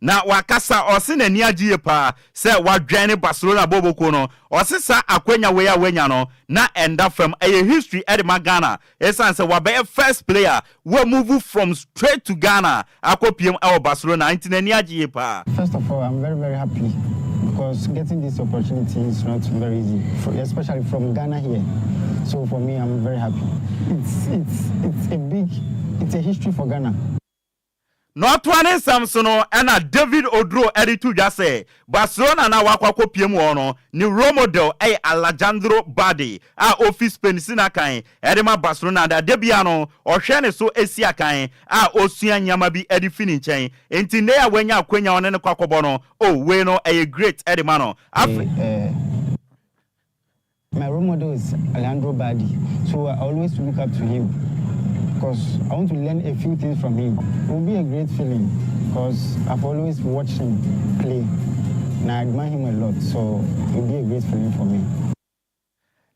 Na wakasa ɔse n'ani agye yie paa sɛ wadwɛne Barcelona bɔɔlbɔ kuo no, ɔse saa akwanya wei a wanya no na ɛnda fam, ɛyɛ history de ma Ghana ɛsiane sɛ wabɛyɛ first player wa move from straight to Ghana akɔ piem wɔ Barcelona nti n'ani agye yie paa. First of all, I'm very very happy because getting this opportunity is not very easy for especially from Ghana here so for me I'm very happy it's it's it's a big it's a history for Ghana. Na ɔtoa ne nsɛm so no, ɛnna David Oduro de to dwa sɛ, Barcelona a na wakɔ akɔpia mu wɔ hɔ no, ne role model yɛ Alejandro Balde a ofi Spain si no akan de ma Barcelona, na da biara no, ɔhwɛ ne so si akan a osua nneɛma bi de fi ne nkyɛn. Enti nnɛyi a wanya akwannya a ɔne no kɔ akɔbɔ no, oh, wei no, ɛyɛ great de ma no. Afei. My role model is Alejandro Balde so I always look up to him cos I want to learn a few things from him it will be a great feeling cos I've always watched him play na I admire him a lot so it will be a great feeling for me.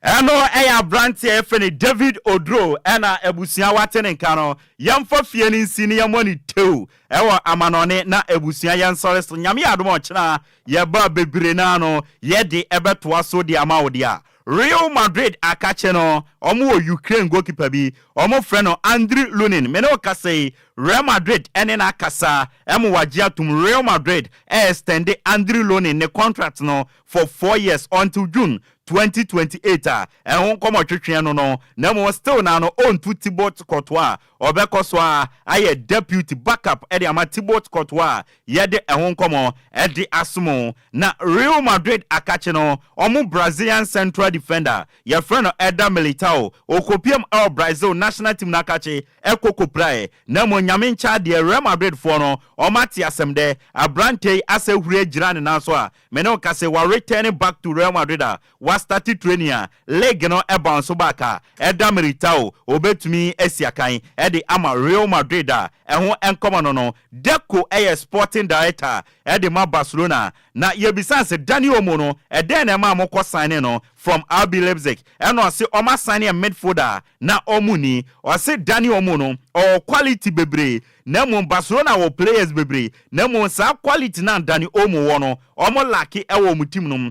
Ɛno ɛyɛ abranteɛ yɛfrɛ no David Oduro ɛna abusua wate ne nka no yɛnfa fie no nsi na yɛmmɔ no tew ɛwɔ amanɔne na abusua yɛnsɔre so Nyame yɛ adom a ɔkyena Yɛba bebree no ara no, yɛde bɛtoa so de ama wo de a. Real Madrid akakye no, wɔwɔ Ukraine goalkeeper bi, wɔfrɛ no Andriy Lunin. Me ne wo kasa yi, Real Madrid ne no akasa ma wɔagye atom. Real Madrid ɛɛstɛnde Andriy Lunin ne contract no for four years until June twenty twenty eight a ɛho nkɔmmɔ twetweɛ no no, na mmom still no ara no ɔntu Thibaut Courtois a Ɔbɛkɔ so ara ayɛ Deputy backup de ama Thibaut Courtois a yɛde ɛho nkɔmmɔ de aso mo. Na Real Madrid akakye no, wɔn Brazilian central defender a yɛfrɛ no Eder Militao, ɔkɔpiam wɔ Brazil national team no akakye kɔ kɔpiraeɛ. Na mmom Nyame nkyɛ adeɛ, Real Madrid foɔ no, wɔate asɛm dɛ, aberanteɛ yi asɛ huri agyina ne nan so a, me ne wo ka sɛ, wa return back to Real Madrid a, W'astarte training a, league no bounce back a, ɛda Militao, obetumi asi akan de ama Real Madrid a, ɛho nkɔmmɔ no no, Deco yɛ sporting director de ma Barcelona. Na yɛbisaa se, Dani Olmo no, dɛn na ɛmaa mokɔ signee no from RB Leipzig? Ɛna ɔse, wɔasignee midfielder a na wɔn nni. Ɔse, Dani Olmo no, ɔwɔ quality bebree, na mmom Barcelona wɔ players bebree, na mmom saa quality no a Dani Olmo wɔ no, wɔn lack wɔ wɔn team no mu.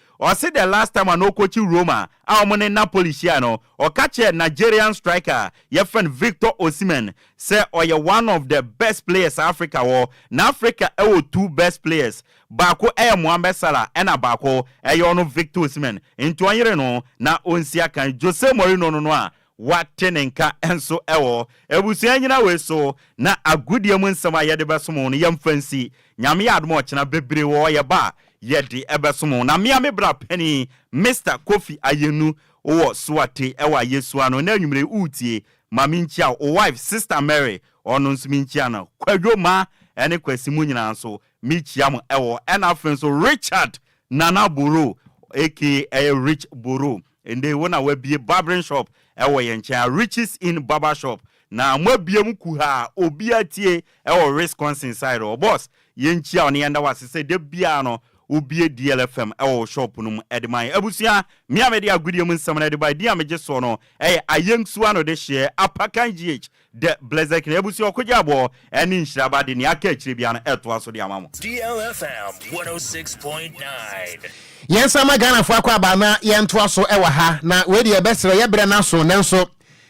Ɔse the last time a na ɔkɔkyi Roma a wɔn ne Napoli hyiae no, ɔka kyerɛɛ Nigerian striker a yɛfrɛ no Victor Osimhen sɛ ɔyɛ one of the best players a Africa wɔ. Na Africa wɔ two best players, baako yɛ Mohamed Salah ɛna baako yɛ ɔno Victor Osimhen, nti ɔnyere no na ɔnsi akan. Jose Mourinho no no a Woate ne nka nso wɔ abusua nnyina wei so, na agodie mu nsɛm a yɛde bɛsom wo no, yɛmfa nsi. Nyame yɛ adom a ɔkyena bebree wɔ hɔ yɛba a, yɛde bɛsom wo. Na mea me bra panin, Mister Kofi Ayenu, wowɔ Suate wɔ Ayesua ano, ɛnnɛ anwumerɛ yi woretie, ma menkyia wo wife, Sister Mary, ɔno nso menkyia no, Kwadwo Ma ne Kwasi mo nyinaa nso mekyia mo wɔ hɔ, ɛna afei nso Richard Nana Borough aka ɛyɛ Rich Borough, Ɛnde wo na w'abie barbering shop ɛwɔ yɛn nkyɛn a Riches Inn Barber Shop na mo abie mo kuhaa a obiara tie ɛwɔ Wisconsin side hɔ boss yɛn nkyia wo na yɛn da wo ase sɛ da biara no wo bie DL FM ɛwɔ wo shop no mu ɛde ma yɛn abusua me a mede agodie mu nsɛm no ɛde ba ɛdin a megye soɔ no ɛyɛ Ayeng Suano de hyeɛ Apakan GH The Blessed Knight Abusua Ɔkogye Aboɔ ɛne Nhyira Aba de nea aka akyire biara no ɛtoa so de ama mo. DLFM 106.9. Yɛn san ma Ghana foɔ akwaaba na yɛn ntoa so ɛwɔ ha na wei deɛ yɛbɛ serɛ yɛ brɛ no aso nanso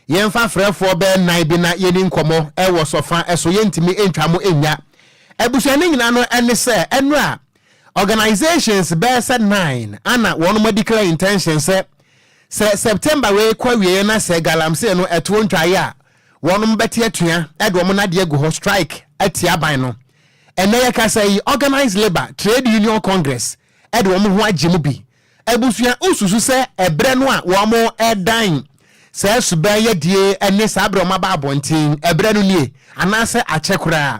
yɛn fa frɛ foɔ bɛɛ nan bi na yɛni nkɔmɔ ɛwɔ sɔfa ɛso yɛntumi ntwa mo nnya abusua ne nyinaa no ɛne sɛ ɛnora Organisations bɛyɛ sɛ nine ana wɔnom a declare intention sɛ sɛ September wei kɔ awieɛ na sɛ galamsey no ɛtoɔ ntwaeɛ a wɔnom bɛte atua de wɔn nadeɛ agu hɔ strike atia aban no. Ɛnnɛ yɛkasa yi Organised Labour Trade Union Congress de wɔn ho agye mu bi. Abusua wosusu sɛ ɛberɛ no a wɔn ɛdan saa suban yɛdie ne saa berɛ wɔn aba abɔnten ɛberɛ no nie anaasɛ akyɛ koraa?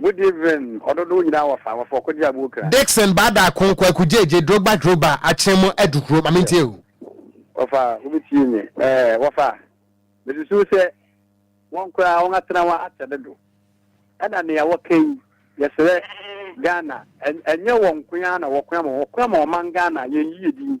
Good evening ɔdodow nyinaa wɔ fa wɔfɔ kogye abuo kra. Dickson Baada Ko Kwaku Gyegye Drogba Drogba Akyem mo adu kuro ma mentie o. Wɔfa wobɛtie me ɛɛ wɔfa mesusu sɛ wɔn koraa wɔn atena hɔ akyɛ dodo ɛna nea wɔka yi yɛsrɛ Ghana ɛnyɛ wɔn nkoa na wɔkoa ma wɔkoa ma ɔman Ghana yɛn yie din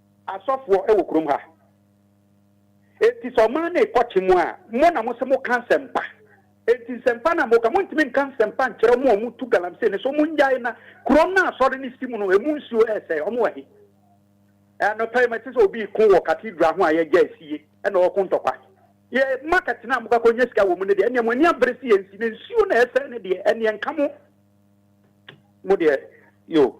Asɔfoɔ wɔ kurom ha. Enti sɛ ɔman no rekɔ kye mu a, mo na mose moka nsɛmpa. Enti nsɛmpa no a moka, montumi nka nsɛmpa nkyerɛ wɔn a wɔtu galamsey no sɛ wɔnnyae na kurom no a asɔre no si mu no, emu nsuo resɛe. Wɔwɔ he? Anɔpa yi mete sɛ obi reko wɔ cathedral ho a yɛagya asie na ɔreko ntɔkwa. Yɛ market no a mokakɔnya sika wɔ mu no deɛ, ɛnneɛ mo ani abere sɛ yɛnsi, na nsuo no a ɛresɛe no deɛ, ɛnneɛ nka mo. Mo deɛ, yoo.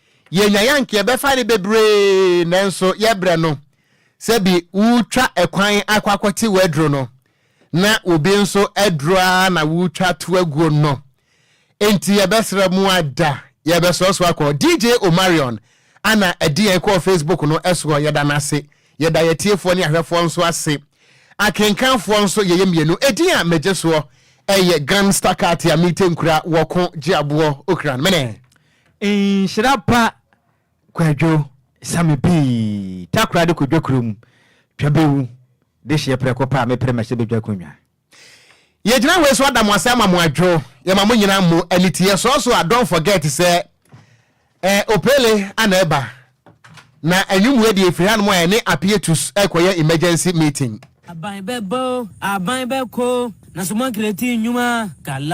Yenya yɛ anka yɛbɛfa ne bebree nanso yɛbrɛ no sɛ bi wotwa ɛkwan akɔ akɔte w'aduro no na obi nso aduro ara na wotwa to aguo no nti yɛbɛsrɛ mu ada yɛbɛsrɛ so akɔ DJ Omarion ana ɛde yɛn kɔɔ Facebook no ɛsoɔ yɛda no ase yɛda yɛtiefoɔ ne ahwɛfoɔ nso ase akenkanfoɔ nso yɛyɛ mmienu ɛdin a megye soɔ ɛyɛ Gun Staccato a mete nkura wɔko gye aboɔ okran mene Nhyira pa kwadwo same pii takoradi kwadwo kurom twa bɛwu de hyeɛ prɛko pɛ a mepere mahyɛ bɛdwa konwa Yɛgyina wei so ada mo ase ama mo adwo yɛma mo nyina mo aniteɛ sɔɔ so a don't forget sɛ eh Opele ana ɛba na anwummerɛ deɛ ɛfiri hanom a ɛne Appear tus ɛrekɔyɛ emergency meeting. Aban bɛbɔ o, aban bɛkɔ o, nanso moankreati nnwuma, Galaw.